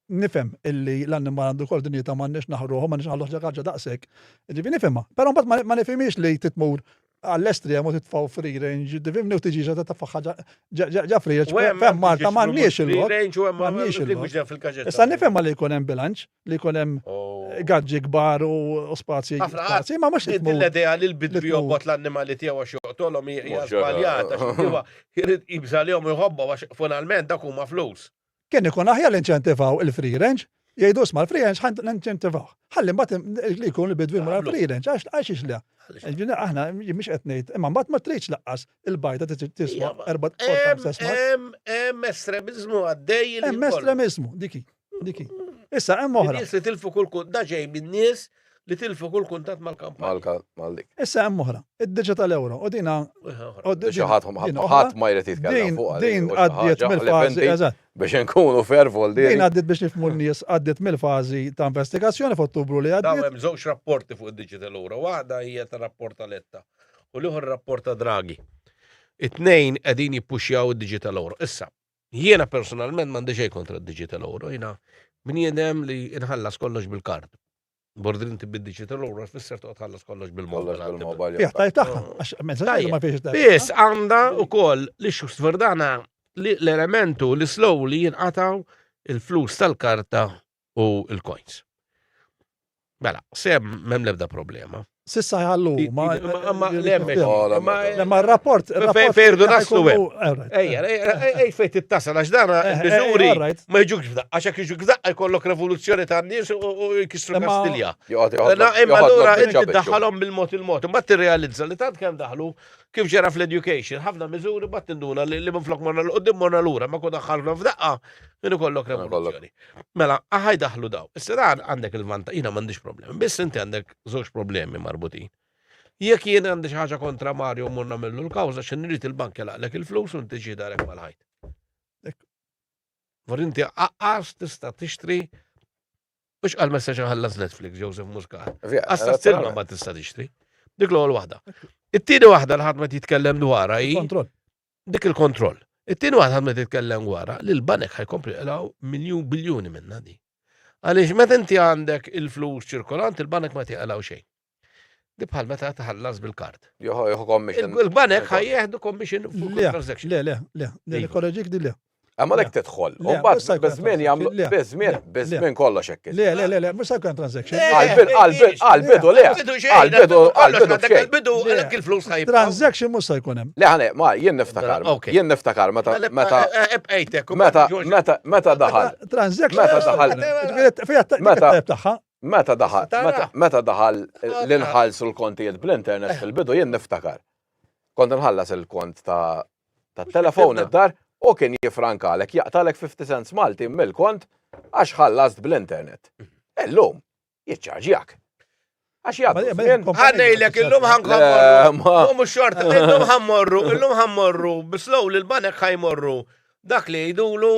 Nifhem illi l-annimal għandu jkollu dinjità m'għandniex naħqruh u m'għandniex naħalluh xi ħaġa daqshekk. Jiġifieri nifhimha. Però mbagħad ma nifhimhiex li trid tmur għall-estrem u titfgħu free range, tifhimni, u tiġi ġa titfa' ħaġa ġa free range. F'hemm Malta m'għandniex il-lok. M'għandniex il-lok. Issa nifhimha li jkun hemm bilanċ, li jkun hemm gaġġi kbar u spazji. Spazji, ma mhux titmur. L-idea li l-bidwi jobgħod l-annimali tiegħu għax joqtolhom hija żbaljata. Jrid jibża' lihom u jħobbhom għax finalment dak huma flus. Kien ikun aħjar li inċentivaw il-free range, jgħidu isma' l-free range ħa ninċentivawh. Ħalli mbagħad li jkun il-bidwi jmur għall-free range għax għax le. Ġifieri aħna mhix qed ngħid, imma mbagħad ma tridx laqqas il-bajda tiswa erba' Hemm hemm estremiżmu għaddej. Hemm estremiżmu, dik hi, dik hi. Issa hemm oħra. Nies li tilfu kull da ġej min-nies li tilfu kull kuntatt mal-kampanja. Mal-dik. Issa hemm oħra, id-digital euro, u dina. Ħadd ma jrid jitkellem fuq din għaddiet mill-fażi. Biex inkunu fair vol din. Din għaddiet biex nifmu n-nies għaddiet mill-fażi ta' investigazzjoni f'Ottubru li għaddiet. Hemm żewġ rapporti fuq id-digital euro, waħda hija ta' rapport ta' Letta u l-ieħor rapport ta' Draghi. It-tnejn qegħdin jippuxjaw id-digital euro. Issa, Jiena personalment m'għandi xejn kontra d-digital euro, jiena bniedem li inħallas kollox bil-kard. Bordrin tibbi digital euro tfisser toqgħod tħallas kollox bil-mobile. bil-mobile. Jah, tajt taħħa, ah. għax mezza tajt ma fiex tajt. Biss għandha wkoll li xux verdana l-elementu li slow li jinqataw il-flus tal-karta u l-coins. Mela, se mem lebda problema. Sissa jħallu, ma. Ma l-emmek. Ma rapport. Fejrdu naslu. Ejja, ej fejt it-tasa, għax dana, bizuri, ma jġukx f'daqqa, għaxak jġuk f'daqqa jkollok revoluzzjoni ta' n-nis u jkissru Kastilja. Na, imma l-ura, inti daħħalom bil-mot il-mot, ma t-realizza li tant kem daħlu, kif ġera fl-education, ħafna mizuri, ma t-induna li minn flok morna l-qoddim morna l-ura, ma kun daħħalna f'daqqa, jenu kollok revoluzzjoni. Mela, aha jdaħħlu daw. Issa dan għandek il-vantaġġ, jiena m'għandix problemi, biss inti għandek żewġ problemi marbutin. Jekk jien għandi xi ħaġa kontra Mario u mmur nagħmillu l-kawża x'in nrid il-bank jilaqlek il-flus u inti ġi darek mal-ħajt. Vor inti aqqas tista' tixtri Mux għal messa ħallas Netflix, Joseph Muscat. Għasta s-silma ma tista tixtri. Dik l-għol wahda. It-tini wahda l-ħad ma titkellem dwarha hi. dik il-kontroll. It-tieni waħda ħadmet titkellem wara li l-banek ħajkompli jqlaw miljun biljuni minna di. Għaliex meta inti għandek il-flus ċirkolanti, il-banek ma tiqlaw xejn. Di bħal meta tħallas bil-kart. Joħu commission. Il-banek ħajjeħdu commission fuq transaction. Le, le, le, le, kolleġik di le. Għamma lek tedħol. Mbagħad beżmien jagħmlu beżmien beżmien kollox hekk. Le, le, le, le, mhux sa jkun transaction. Għalbidu, għalbidu, għalbidu, le. Għalbidu, għalbidu, għalbidu, għalek il-flus ħajb. Transaction mhux sa jkun hemm. Le, ħane, ma jien niftakar. Jien niftakar meta meta ebqejtek. Meta meta meta daħal. Transaction meta daħal. Meta tagħha. Meta daħal, meta daħal l-inħalsu l-kontijiet bl-internet fil-bidu jien niftakar. Kont nħallas il-kont ta' tat-telefon id-dar u kien jiffrankalek, jaqtalek 50 cents Maltin mill-kont għax ħallast bl-internet. Illum, jiċċarġjak. Għax jgħaddu. Ħannejlek, illum ħankomorru. U mux xorta, illum ħammorru, illum ħammorru, bislow li l-banek ħajmorru. Dak li jgħidulu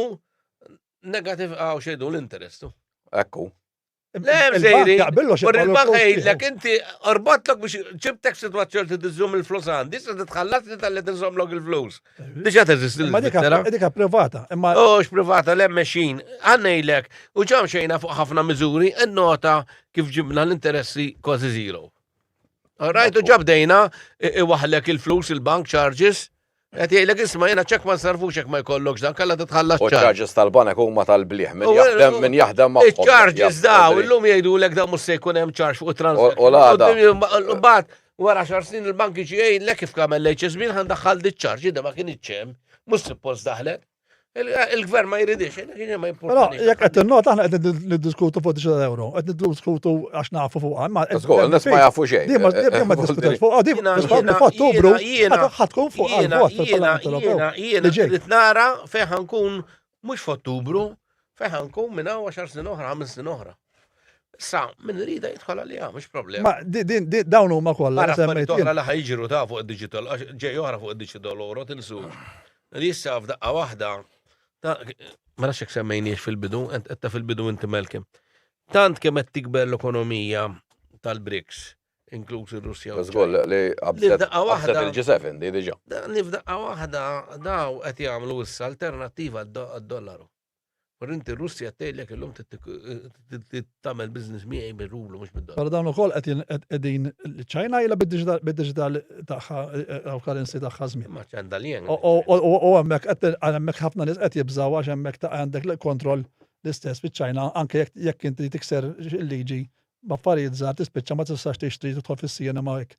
negativ għaw xejdu l-interestu. Ekku. Le, mżejri. Ur il-banka jgħidlek, inti orbotlok biex ċibtek situazzjoni t tizzum il-flus għandi, se titħallas li tal-li tinżomlok il-flus. Diġa teżisti l-Svizzera. Dika privata. Ux privata, le meċin. Għannejlek, u ġam xejna fuq ħafna miżuri, n-nota kif ġibna l-interessi kważi zero. Rajtu ġabdejna, iwaħlek il-flus, il-bank charges, Qed jgħidlek isma' jiena ċekk ma nsarrfux jekk ma jkollokx dan, kellha titħallas ċar. U ċ-charges tal-banek huma tal-bliħ minn jaħdem minn jaħdem magħhom. Iċ-charges daw illum jgħidulek dan mhux se jkun hemm charge fuq it-transazzjoni. U l-għada. Mbagħad wara xar snin il-banki ġi jgħidlek kif kamel l-HSB ħan daħħal diċ-charge, da ma kien iċċem, mhux suppost daħlet. Il-gvern ma jridix, ma jimporta. Però jekk qed innota aħna qed niddiskutu fuq 9 euro, qed niddiskutu għax nafu fuq għal. Ah, Żgur, nes ma jafu xejn. Dima ma diskutax fuq għadi, f'Ottubru ħatkun fuq għal-vot fil-Parlament Ewropew. Jiena ġejt nara fejn ħankun mhux f'Ottubru, Fejn ħankun minn hawn għaxar snin oħra, ħames snin oħra. Sa, minn rida jitħol għalija, mhux problema. Ma di- din di- dawn huma kollha Għara affarijiet semmejt oħra jien. li ħajġru ta' fuq id-digital, għax ġej oħra fuq id-digital oħra tinsu. Li issa f'daqqa waħda, ta' ma nafx jekk semmejniex fil-bidu, ent- etta fil-bidu inti Malcolm. Tant kemm qed tikber l-ekonomija tal-BRICS, inkluż ir-Russja u ċ-Ċina. Li f'daqqa waħda. Li f'daqqa waħda dawn qed jagħmlu issa alternattiva għad-dollaru. Però inti r-Russja tgħidlek illum trid tagħmel business miegħi bir-rublu mhux bid-dollaru. Però dawn ukoll qegħdin iċ-Ċina ilha bid-diġital tagħha u currency tagħha żmien. Imma x'għandha l-yen. U hemmhekk ħafna nies qed jibżgħu għax hemmhekk għandek kontroll l-istess fiċ-Ċina anke jekk inti tikser il-liġi B'affarijiet żgħar tispiċċa ma tistax tixtri tidħol fis-cinema hekk.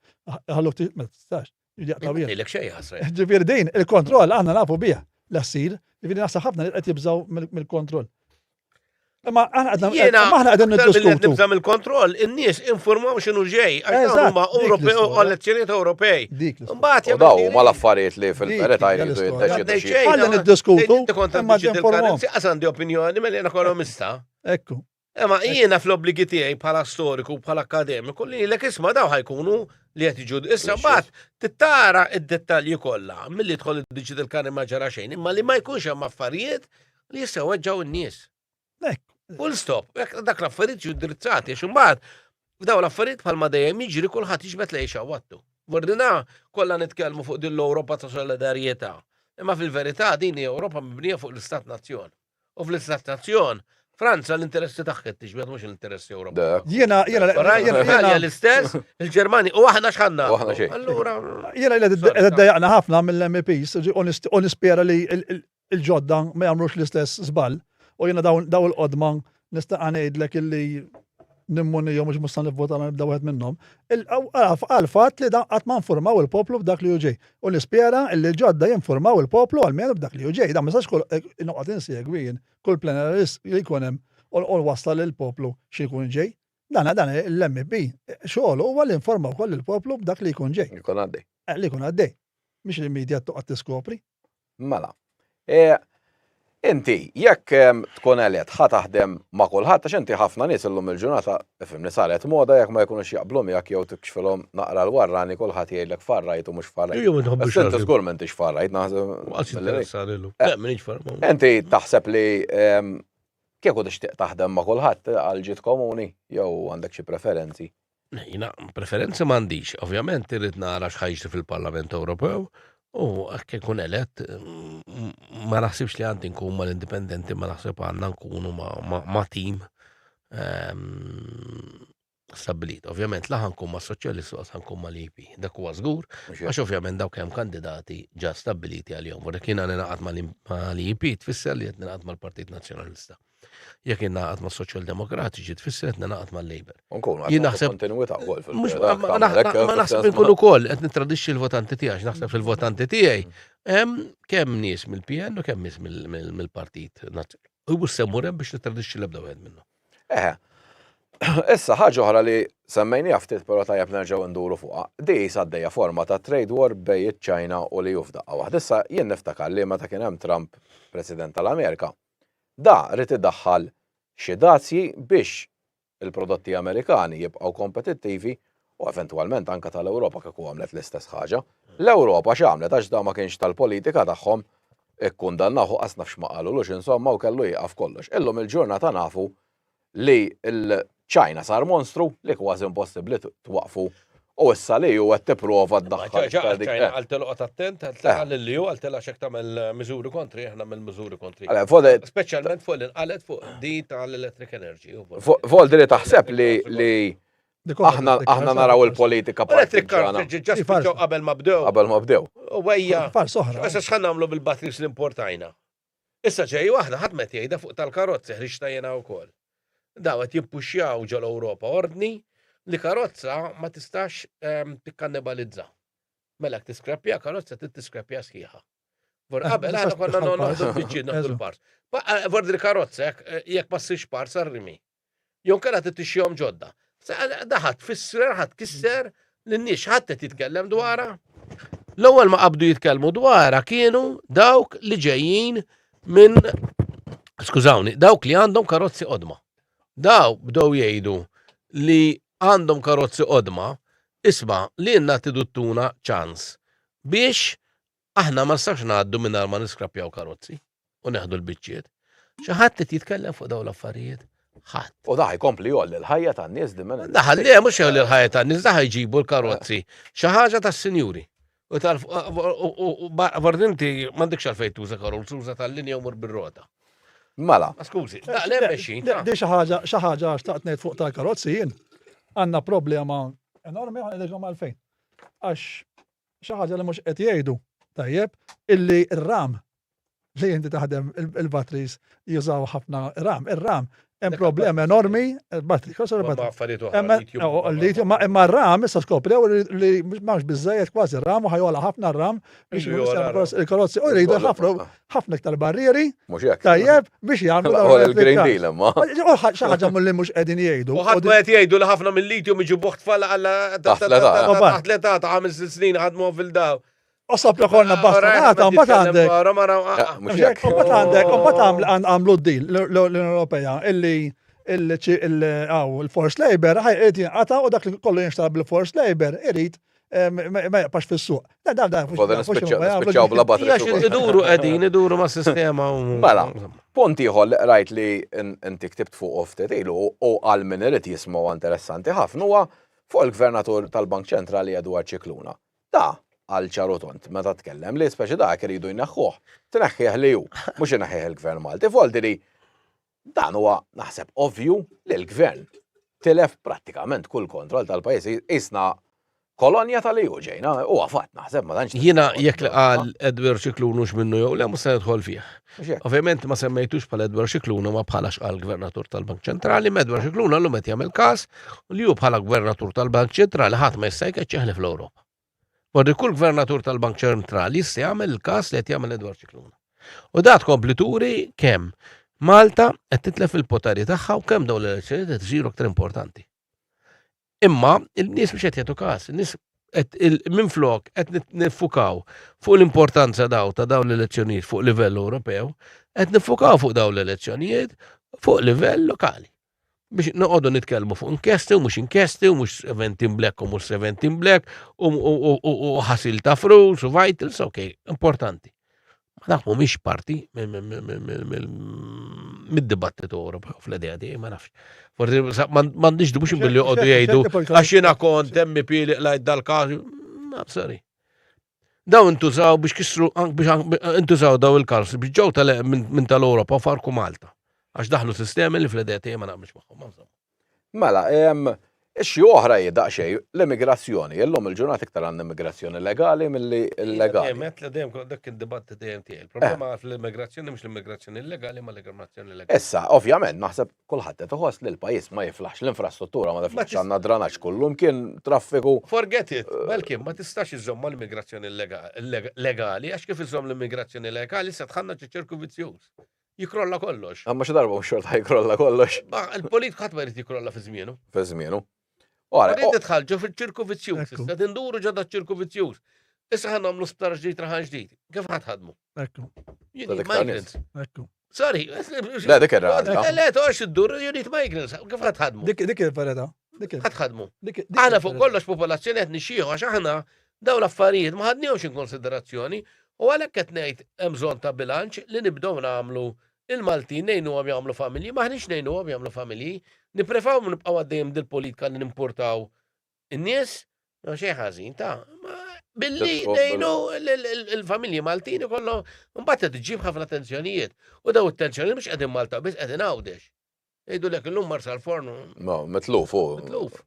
Iħalluk tixtri ma tistax. Jaqtgħulek xejn ħasra. Ġifieri din il-kontroll għandna nafu biha l-assil, ġifieri naħseb ħafna li qed jibżgħu mill-kontroll. Ma aħna qegħdin niddiskutu. Nibża mill-kontroll, in-nies informaw x'inhu ġej, għax huma Ewropej u elezzjonijiet Ewropej. Mbagħad jagħmlu. Daw huma l-affarijiet li fil-qeret għajdu jiddeċidu xi. Ħalli niddiskutu. Imma informaw. Għandi opinjoni mela ekonomista. Ekku. Ema, jiena fl-obbligi tiegħi bħala storiku, bħala akademiku, li l isma daw ħajkunu li qed jiġu issa mbagħad tittara id-dettalji kollha milli tħol id-diġit il-kani ma ġara xejn, imma li ma jkunx hemm affarijiet li jistgħu weġġaw n-nies. Full stop, dak l-affarijiet ġu drizzati, għax imbagħad daw l-affarijiet bħalma dejjem jiġri kulħadd jiġbed lejxa wattu. Mordina kollha nitkellmu fuq din l-Ewropa ta' solidarjetà. Imma fil-verità din hija Ewropa mibnija fuq l-Istat Nazzjon. U fl-istess stazzjon, Franza l-interessi tagħha tiġbed mhux l-interessi Ewropej. Jiena jiena Italja l-istess, il-Ġermani u aħna x'ħanna. Allura jiena qed dejjaqna ħafna mill-MPs u nispjera li l-ġodda ma jagħmlux l-istess żball u jiena dawn il-qodma Nista' ngħidlek illi nimmunijom mhux musta nivvota ma nibda wieħed minnhom. Għal fatt li dan qatt ma nfurmaw il-poplu b'dak li uġej. U nispjera illi ġodda jinfurmaw il-poplu għalmenu b'dak li uġej. Dan ma sax kull eh, noqgħod insegwi jien kull plenarist li jkun hemm u wassal il-poplu xi jkun ġej. Dan dan l-MP xogħol huwa li informaw koll il-poplu b'dak li jkun ġej. Li jkun għaddej. Eh, li jkun għaddej. Mhix il-medja toqgħod tiskopri. Mela. E, inti, jekk ehm, tkun għalet, ħa taħdem ma' kulħadd, għax inti ħafna nies illum il-ġurnata, ifimni saret moda jekk ma jkunux jaqblu miegħek jew tikxfilhom naqra l-warrani kulħadd jgħidlek farrajt u mhux farrajt. Ejju ma tħobbux. Inti żgur m'intix farrajt naħseb. Għax interessani llum. Eh. Le, m'iniex farrajt. Inti taħseb li ehm, kieku tixtieq taħdem ma' kulħadd għal ġid komuni jew għandek xi preferenzi. Jiena preferenzi m'għandix, ovvjament irrid nara x'ħa jiġri fil-Parlament Ewropew u hekk ikun elett mm, ma naħsibx li għandi nkun mal-indipendenti ma naħseb għandna nkunu ma', ma, ma tim ehm, stabbilit. Ovvjament laħan kun ma' soċjalisti u għasan kun ma' l-IP. Dak huwa żgur, għax ovvjament dawk hemm kandidati ġa stabbiliti għal-jom. Vorrek jiena ninaqat ma' l-IP tfisser li qed ninaqat mal-Partit Nazzjonalista. Jekk ingħaqad ma' Soċjal Demokratiċi tfisser qed ningħaqad mal-Labour. Jien naħseb kontinwità wkoll fil-Labour. Ma naħseb inkun ukoll qed nittradixxi l-votanti tiegħi, naħseb fil-votanti tiegħi hemm kemm nies mill-PN u kemm nies mill-Partit Nazzjonali. U semmur hemm biex nittradixxi l-ebda wieħed minnhom. Eħe. Issa ħaġa oħra li semmejni ftit però tajjeb nerġgħu nduru fuqha. Di għaddejja forma ta' trade war bej iċ-Ċina u li jufda waħd. Issa jien niftakar li meta kien hemm Trump President tal-Amerika, Da ried idaħħal xi dazji biex il-prodotti Amerikani jibqgħu kompetittivi u eventwalment anke tal-Ewropa kieku għamlet l-istess ħaġa. L-Ewropa x'għamlet għax da ma kienx tal-politika tagħhom, ikkundannawh u qas naf x'ma qalulux insomma u kellu jieqaf kollox. Illum il-ġurnata nafu li l-Ċina sar monstru li kważi impossibbli twaqqfu u issa li hu qed tipprova ddaħħal iktar dik. Ċina għal tilqgħod attent, għal tilqa' lil li hu, għal tilqa' x'hekk tagħmel miżuri kontri, aħna mill miżuri kontri. Speċjalment fuq li nqalet fuq di tal-electric energy. Vol li taħseb li Aħna aħna naraw il-politika Electric car ġiġġa qabel ma bdew. Qabel ma bdew. U għajja. Far soħra. Issa x'ħan nagħmlu bil-batteries li importajna? Issa ġej waħda ħadd m'qed jgħidha fuq tal-karozzi ħriġtha jien hawn ukoll. Dawn qed jippuxxjaw ġol-Ewropa ordni li karozza ma tistax tikkannibalizza. Mela jekk tiskrappja karozza trid tiskrappja sħiħa. Vor qabel aħna konna noqogħdu biċċiedna kull pars. Vor il-karozza jekk ma ssirx pars għar-rimi. Jew inkella trid tixxihom ġodda. Da ħadd fisser, ħadd kisser lin-nies ħadd qed jitkellem dwarha. L-ewwel ma qabdu jitkellmu dwarha kienu dawk li ġejjin minn skużawni, dawk li għandhom karozzi qodma. Daw bdew jgħidu li għandhom karozzi qodma isma' li jenna tiduttuna ċans biex Aħna ma nistgħux ngħaddu mingħajr ma niskrappjaw karozzi u neħdu l-biċċiet. Xi ħadd qed jitkellem fuq dawn l-affarijiet? Ħadd. U daħ jkompli jolli l-ħajja tan-nies li minn. Daħal li mhux jolli l-ħajja tan-nies, daħ jġibu l-karozzi. Xi ħaġa tas-sinjuri. U tal bordinti m'għandekx għalfejn tuża karozzi, tuża tal-linja u mur bir-rota. Mela. Skużi, daqlem mexxin. Di xi ħaġa xi ħaġa għax taqt ngħid fuq tal-karozzi jien għandna problema enormi għalfejn. Għax Xi ħaġa li mhux qed jgħidu, tajjeb, illi r-ram li inti taħdem il-batteries jużaw ħafna ram. Ir-ram hemm problema enormi, battery, xo sar battery. Lithium, imma r-ram issa skoprew li mhux biżejjed kważi r-ram u ħajola ħafna r-ram biex il-karozzi u jridu ħafna ħafna iktar barrieri. Mhux hekk. Tajjeb biex jagħmlu dawn Għol il-Green il-trittati. Deal imma. U ħa- xi ħaġa mill-li mhux qegħdin jgħidu. U ħadd ma qed jgħidu li ħafna mill-lithium iġibuh tfal għalla Taħt l-età. taħt l-età ta' ħames snin ħadmu fil-daw. U sab li konna bastonata, u mbagħad għandek. Eh, Mhux Mhux hekk. hekk, u mbagħad għandek, u mbagħad għaml- għan- għamlu d-dil l- l- l-Unjoni Ewropea illi il- ċi- il- għaw, il-force labor ħaj irid jinqata u dak li kollu jinxtar bil-force labor irid ma jaqpax fis-suq. Da da da. Koda nispiċċaw bla batteries. Iduru qegħdin, iduru ma' sistema. Mela, punt ieħor li qrajt li inti ktibt fuq oftet ilu u għal min irid jismu interessanti ħafna huwa fuq il-gvernatur tal-Bank Ċentrali Edward Ċikluna. Da, għal ċarotont, meta tkellem li speċi dak iridu jneħħuh, tneħħieħ li ju, mhux ineħħieħ il-gvern Malti, foldi li Dan huwa, naħseb, ovvju li l-Gvern tilef prattikament kull kontroll tal-pajjiż isna kolonja tal-EU ġejna, huwa fatt naħseb ma tantx. Jiena jekk li qal Edward Xiklun hux minnu jew le mhux se nidħol fih. Ovvjament ma semmejtux bħal Edward Xiklun ma bħala x'qal Gvernatur tal-Bank Ċentrali, ma Edward Xiklun għallum qed jagħmel każ li hu bħala Gvernatur tal-Bank Ċentrali ħadd ma jista' jkeċċeħ li fl-Ewropa. Morri kull gvernatur tal-Bank Ċentrali jista' jagħmel il-każ li qed jagħmel Edward Ċikluna. U da tkompli turi kemm Malta qed titlef il-poteri tagħha u kemm dawn l-elezzjonijiet qed isiru aktar importanti. Imma il-nies biex qed jagħtu każ, in-nies minn flok qed nifukaw fuq l-importanza daw ta' dawn l-elezzjonijiet fuq livell Ewropew, qed nifukaw fuq dawn l-elezzjonijiet fuq livell lokali. biex noqogħdu nitkellmu fuq inkjesti u mhux inkjesti u mhux 17 black u mhux 17 black u ħasil ta' frus u vitals, ok, importanti. Ma dak mhumiex parti mid-dibattitu Ewropew fl-idea di, ma nafx. Forsi m'għandix dubux billi joqogħdu jgħidu għax jiena kont MP li qlajt dal-każ. Sorry. Daw intużaw biex kisru intużaw daw il-kalsi biex ġew tal minn tal-Ewropa u farku Malta. Għax daħlu sistemi li fl-idea tiegħi ma naqbilx magħhom. Mela, xi oħra hi daqsxejn l-immigrazzjoni. Illum il-ġurnata iktar għandna immigrazzjoni legali milli illegali. Dejjem qed dejjem dak id-dibatt dejjem tiegħi. Il-problema fl-immigrazzjoni mhux l-immigrazzjoni illegali ma l-immigrazzjoni legali. Issa, ovvjament, naħseb Kulħadd qed iħoss li l-pajjiż ma jiflaħx l-infrastruttura ma tiflaħx għandna dranaġġ kullum kien traffiku. Forget it, Belkien ma tistax iżżomm mal-immigrazzjoni legali għax kif iżżomm l-immigrazzjoni legali se tħannaġ iċ-ċirku vizzjuż. Jikrolla kollox. Imma xi darba mhux xorta jikrolla kollox. Il-politika ħadd ma jrid jikrolla fi żmienu. Fi żmienu. Ora, Din tidħal ġo fil-ċirku vizzjuż, Ekku. issa tinduru ġo da ċirku vizzjuż. Issa ħan nagħmlu sptar ġdid raħan ġdid. Kif ħadd ħadmu? Ekku, You Sa need dik ta' migrants. ekku. Sorry, le dik era. Le, le, toqgħodx iddur, you need migrants. Kif ħadd ħadmu? Dik dik il-verita. Dik il- Ħadd ħadmu. dik- dik Aħna fuq il-verita. kollox popolazzjoni qed nixxieħu għax aħna daw l-affarijiet ma ħadnihomx in konsiderazzjoni u għalhekk qed ngħid hemm bżonn ta' bilanċ li nibdew nagħmlu Il-Maltin ngħinuhom jagħmlu familji, m'aħniex ngħinuhom jagħmlu familji. Nipprefawm nibqgħu għaddejjin b'dil-politika li nimpurtaw in-nies, ma xejn ħażin, ta' ma billi ngħinu l-familji Maltin ikollhom imbagħad qed iġġib ħafna tensjonijiet. U daw it-tensjonijiet mhux qegħdin Malta biss qegħdin Għawdex. Jgħidulek illum mar sal-forn. Ma, mitluf u. Mitluf.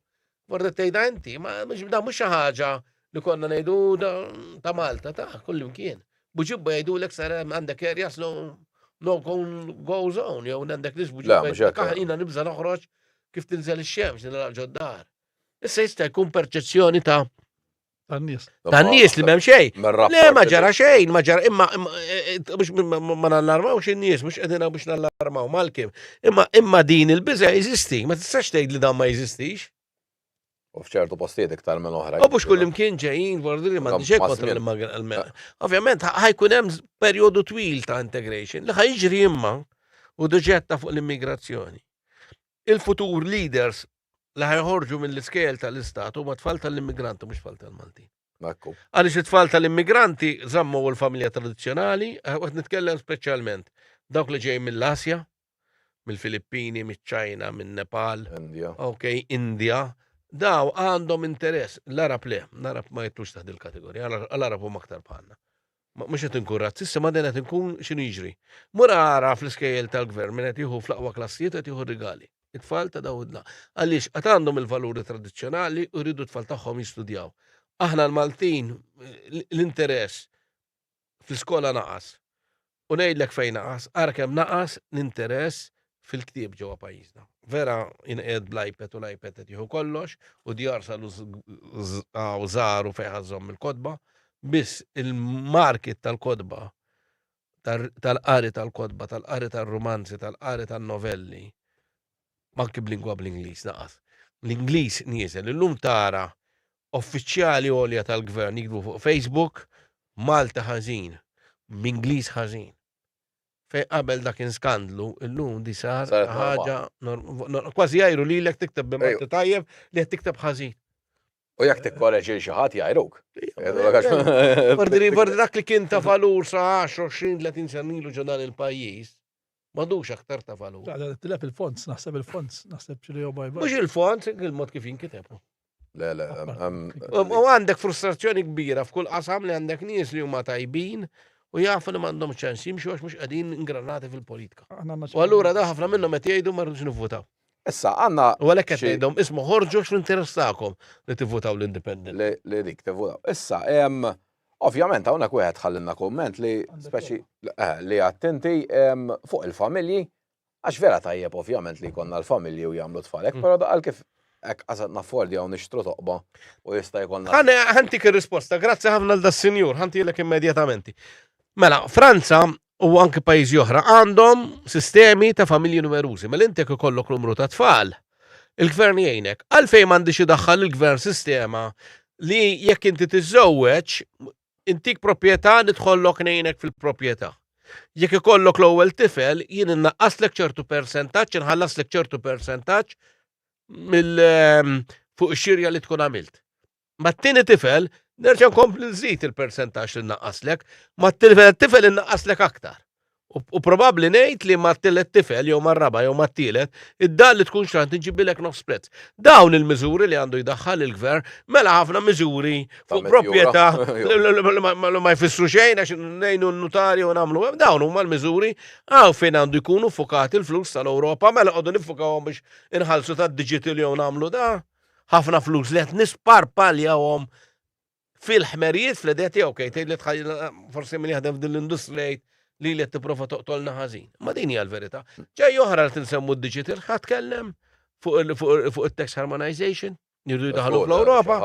Forse tgħidha inti, ma mhux da mhux xi ħaġa li konna ngħidu ta' Malta ta' kullimkien. Buġibba jgħidulek sar għandek erja slu no go zone, jew għandek nis buġibba. Kaħina nibża noħroġ kif tinżel ix-xemx nilgħaq ġoddar. Issa jista' jkun perċezzjoni ta' Tan-nies. Tan-nies li m'hemm xejn. Le ma ġara xejn, ma ġara imma eh, biex ma nallarmaw xi nies mhux qegħdin biex nallarmaw mal-kim. Imma imma din il-biża' jeżisti, ma tistax tgħid li dan ma jeżistix. U fċertu postijiet iktar minn oħra. U biex kull imkien ġejjin bordi li ma diġek kontra l-immigrant. Ovvjament, ħajkun hemm perjodu twil ta' integration li ħajġri imma u doġetta fuq l-immigrazzjoni. Il-futur leaders li ħajħorġu mill-iskejjel tal-istat huma tfal tal-immigranti mhux tfal tal-Maltin. Ekku. Għaliex it-tfal tal-immigranti żammu l-familja tradizzjonali, eh, qed nitkellem speċjalment dawk li ġej mill-Asja, mill-Filippini, miċ-Ċajna, min-Nepal, Indja. ok, Indja, daw għandhom interess, l-Arab le, l-Arab ma jittux taħt il-kategorija, l-Arab huma aktar bħalna. Mhux qed inkun razzista imma dejjem qed inkun x'inhu jiġri. Mur ara fl-iskejjel tal-Gvern min qed jieħu fl-aqwa klassijiet u qed jieħu r-rigali. It-tfal ta' dawn id-dla. Għaliex? Għad għandhom il-valuri tradizzjonali u jridu t-tfal tagħhom jistudjaw. Aħna l-Maltin l-interess fl-iskola naqas. U ngħidlek fejn naqas, ara kemm naqas l-interess fil-ktieb ġewwa pajjiżna. Vera inqed bl-iPad u l-iPad qed jieħu kollox u djar salu u żaru fejn ħażhom il-kotba, biss il-market tal-kotba tal-qari tal-kotba, tal-qari tal-rumanzi, tal-qari tal-novelli, manki b'lingwa bl-Ingliż naqas. L-Ingliż nieżel, illum tara uffiċjali għolja tal-gvern jikbu fuq Facebook, Malta ħażin, b'Ingliż ħażin. Fejn qabel dak kien skandlu, illum di sar Saret normal. ħaġa norm- nor- kważi jgħiru lilek tikteb bi Malti tajjeb li qed tikteb ħażin. U jekk tikkoreġi lil xi ħadd jgħiruk. Fordi fordi dak li kien ta' valur sa 10, 20, 30 sena ilu ġo dan il-pajjiż, m'għadux aktar ta' valur. Għada tilab il-fonts, naħseb il-fonts, naħseb ċili u bajba. Mhux il-font, il-mod kif jinkiteb. Le, le, U għandek frustrazzjoni kbira f'kull qasam li għandek nies li huma tajbin u jafu li m'għandhom ċans jimxu għax mhux qegħdin ingranati fil-politika. U allura da ħafna minnhom qed jgħidu ma rridux nivvutaw. Issa għandna. U għalhekk qed ngħidhom isma' ħorġu x'l-interess tagħkom li tivvutaw l-independent. Li dik tivvutaw. Issa hemm Ovvjament hawnhekk wieħed ħallinna kumment li speċi eh, li attenti fuq il-familji Għax vera tajjeb ovvjament li jkollna l-familji u jagħmlu tfal hekk, però daqal kif hekk qasad naffordjaw nixtru toqba u jista' jkollna. Ħane ħantik ir-risposta, grazzi ħafna għal das-sinjur, ħantilek immedjatament. Mela, Franza u anki pajjiżi oħra għandhom sistemi ta' familji numerużi, mela inti jekk ikollok numru ta' tfal, il-gvern jgħinek. Għalfejn m'għandhiex idaħħal il-gvern sistema li jekk inti tiżżewweġ Intik proprjetà nidħollok ngħinek fil-proprjetà. Jekk ikollok l-ewwel tifel jien innaqqaslek ċertu persentaġġ, inħallaslek ċertu persentaġġ mill ehm, fuq ix-xirja li tkun għamilt. Mat-tieni tifel nerġa' nkompli nżid il-persentaġġ li nnaqqaslek, mat-tifel tifel innaqqaslek aktar. U probabbli ngħid li ma tillet tifel jew ma raba jew ma tielet, id-dar li tkun xrant inġibilek nofs prezz. Dawn il-miżuri li għandu jdaħħal il-gvern mela ħafna miżuri fuq proprjetà li ma jfissru xejn għax ngħinu n-notarju u nagħmlu hemm dawn huma l-miżuri għaw fejn għandu jkunu fukati l-flus tal-Ewropa mela qogħdu nifukawhom biex inħallsu tad-digital jew nagħmlu da ħafna flus li qed nisparpaljawhom fil-ħmerijiet fl-idea tiegħu kejt tgħid li tħajjil forsi min jaħdem f'din l-industrija jgħid li li tipprova toqtolna ħażin. Ma din hija l-verità. Ġej oħra li tinsemmu d-digital ħadd kellem fuq it-tax harmonization jirdu jdaħlu fl-Europa.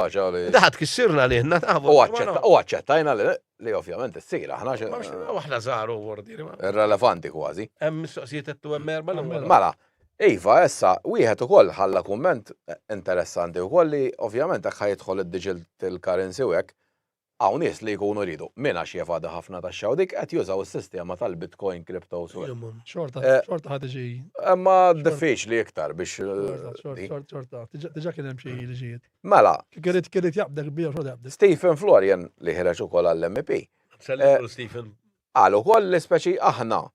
Daħat kissirna li ħna tafu. U għacċettajna li ovvjament s-sir, aħna xeħna. Aħna zaru għordi. Irrelevanti kważi. Hemm mistoqsijiet għettu hemm erba l Mala, Iva, issa, wieħed ukoll ħalla kumment interessanti wkoll li ovvjament hekk ħa jidħol id-digital currency u hekk, hawn nies li jkunu jridu, minn għax jevadi ħafna taxxa u dik, qed jużaw is-sistema tal-Bitcoin, cryptos u hekk. Xorta, xorta ħa tiġi. Imma diffiċli iktar biex. Xorta, xorta, diġà kien hemm xi liġijiet. Mela. Kien irid jaqbdek bih u xorta jaqbdek. Stephen Florian li ħireġ ukoll għall-MEP. Stephen. Qal ukoll li speċi aħna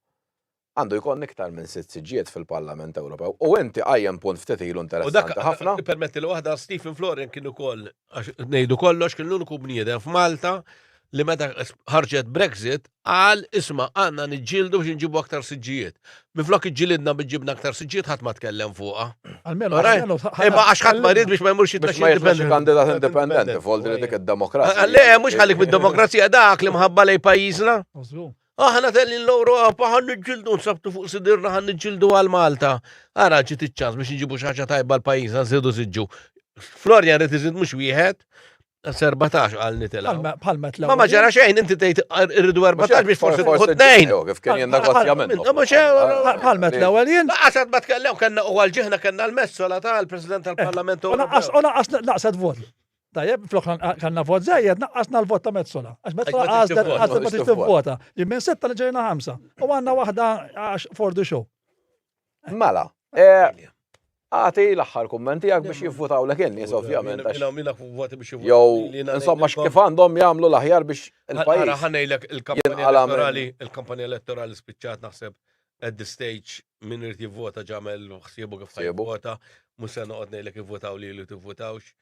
Għandu jkollna iktar minn sitt siġġijiet fil-Parlament Ewropew. U inti qajjem punt ftit ilu interessanti ħafna. U dak, permetti li waħda, Stephen Florian kien ukoll, għax ngħidu kollox, kien l-uniku bniedem f'Malta li meta ħarġet Brexit qal isma' għandna niġġieldu biex inġibu aktar siġġijiet. Minflok iġġilidna biex ġibna aktar siġġijiet ħadd ma tkellem fuqha. Almenu għalmenu. Imma għax ħadd ma ried biex ma jmurx jitmexxi indipendenti. Biex ma jitmexxi kandidat indipendenti, f'għoldi li dik id-demokrazija. Le, mhux ħallik mid-demokrazija dak li mħabba lejn pajjiżna. Aħna tellin l-Ewropa ħan niġġildu nsabtu fuq sidirna ħan niġġildu għal Malta. Ara ġiet iċ-ċans biex nġibu xi ħaġa tajba l-pajjiż nżidu siġġu. Florian rid iżid mhux wieħed, 14 għal nitela. Palma tlaw. Ma ġara xejn, inti tgħid irridu 14 biex forsi tħu tnejn. Kif kien jien negozjament. Palma tlaw għal jien. Għasad ma tkellem kellna u għal ġihna kellna l-messola tal-President tal-Parlament. U naqqas naqsad vot. Tajjeb, flok kanna vot zejjed, naqqasna l-vot ta' Metzola. Għax Metzola għazda għazda ma tix tivvota. Li minn setta li ġejna ħamsa. U għanna wahda għax for the show. Mela, eh, għati l-axħar kummenti għak biex jivvutaw l kien nis ovvjament. Jow, insomma, kif għandhom jamlu l-aħjar biex il-pajis. Għara ħanajlek il-kampanja elettorali, il-kampanja elettorali spiċċat naħseb at the stage minn irti vota ġamel xsiebu kif ħajvota, musa noqgħod ngħidlek ivvotaw li li tivvotawx.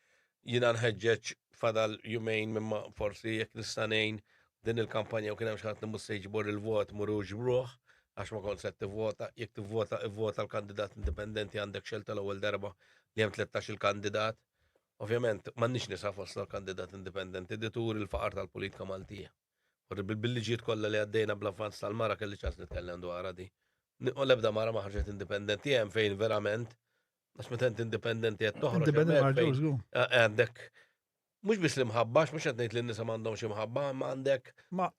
Jiena nħeġġeġ fadal jumejn imma forsi jekk nista' ngħin din il-kampanja u kien hemm xi ħadd li mhux se jiġbor il-vot murux b'ruħ għax ma kont se tivvota, jekk tivvota ivvota l-kandidat indipendenti għandek xelta l-ewwel darba li hemm 13 il-kandidat. Ovvjament, m'għandniex nisa fostna l-kandidat indipendenti, di turi l-faqar tal-politika Maltija. Bil-liġijiet kollha li għaddejna bl-avvanz tal-mara kelli ċans nitkellem dwarha di. Nieqol ebda mara ma ħarġet indipendenti hemm fejn verament Għax meta inti indipendenti qed toħroġ. Indipendenti marġuż, eh, Għandek mhux biss l-imħabba, mhux qed ngħid li n-nisa m'għandhomx imħabba, ma għandek.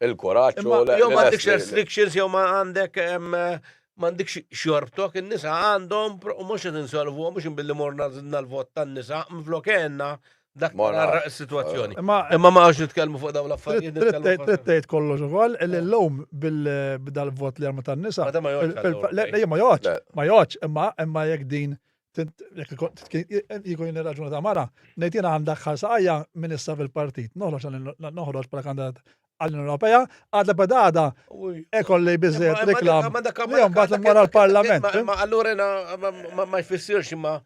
Il-kuraġġ u Jew m'għandekx restrictions jew ma għandek m'għandekx xorbtok, in-nisa għandhom u mhux qed insolvu mhux inbilli morna żidna l-vot tan-nisa, mflok għenna Dak Ma naf. marra s-sitwazzjoni. Imma Imma ma għax nitkellmu fuq dawn l-affarijiet. trid- nitkellmu trid fuq- trid tgħid kollox ukoll li llum bil- b'dal-vot li għamlu tan-nisa. Ma da ma joqgħodx fil- għall-Ewropej. le- le, Ma joqgħodx, Le. ma joqgħodx, imma imma jekk din tint- jekk ikun- titki- jkun jien ir-raġuna ta' mara, ngħid jiena għal daħħal saqajja minn issa fil-partit. Noħroġ għal- noħroġ bħala kandidat għall-Unjoni Ewropea, għadha b'għada Uj. ekolli Imma- biżejjed imma reklam. dak- imma dak- li mbagħad dak- immur għall-Parlament. imma- fim? Imma allura jena ma- ma- ma jfissirx imma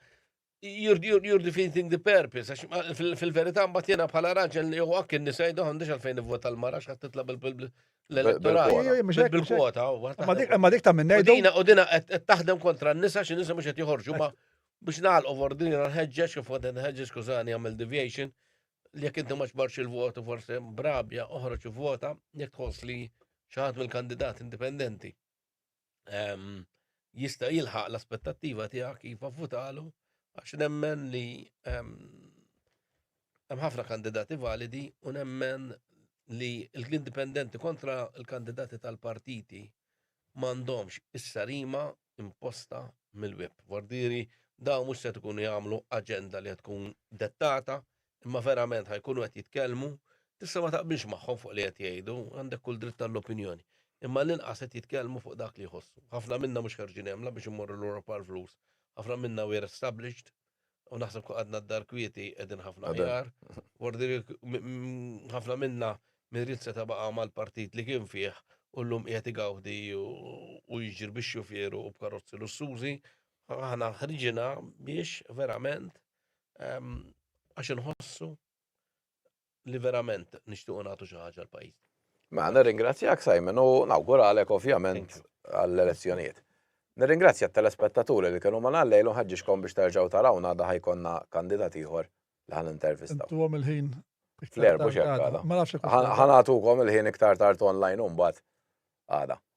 You're, you're, you're defeating the purpose, għax ma- fil- fil-verità mbagħad jiena bħala raġel li huwa kien nisa jdu għandix għalfejn nivvota l-mara x'qed titla' bil- bil- bil- l-elettorat. Bil-kwota. Ejja, ejja, mhux hekk, mhux hekk. Bil-kwota. u għad Ma dik taħdem. ma dik ta' minn U ngħidu. dina u dina qed qed taħdem kontra n-nisa xi nisa mhux qed joħorġu ma biex nagħlqu vordini nħeġġeġ kif qed nħeġġeġ skużani għamel deviation li jekk inti ma ġbarx il-votu forse brabja oħroġ vota jekk tħoss li xi ħadd mill-kandidat indipendenti jista' jilħaq l-aspettattiva tiegħek iva vvutalu għax nemmen li hemm ħafna kandidati validi u nemmen li l-indipendenti kontra l-kandidati tal-partiti m'għandhomx is-sarima imposta mill-web. Vordiri dawn mhux se tkun jagħmlu aġenda li tkun dettata imma verament ħa jkunu qed jitkellmu, tista' ma taqbilx magħhom fuq li qed jgħidu, għandek kull dritt għall-opinjoni, imma għall-inqas qed jitkellmu fuq dak li jħossu. Ħafna minna mhux ħerġin hemm la biex immorru l-Ewropa għall-flus, ħafna minna we're established u naħseb kieku qgħadna d-dar kwieti qegħdin ħafna aħjar. Ħafna minna min ried seta' baqa' mal-partit li kien fih u llum qiegħed igawdi u jiġri bix-xufier u b'karozzi lussużi, aħna ħriġina biex verament għax inħossu li verament nixtiequ nagħtu xi ħaġa l-pajjiż. Ma mela, nirringrazzjak Simon u nawguralek ovvjament għall-elezzjonijiet. Nirringrazzja t-telespettaturi li kienu ma nallejlu ħaġġiġkom biex terġgħu tarawna da ħajkonna kandidat ieħor li ħan intervistaw. Tuwom il-ħin. Flerbu xekk għada. Ħanatukom il-ħin iktar tard online un bat għada.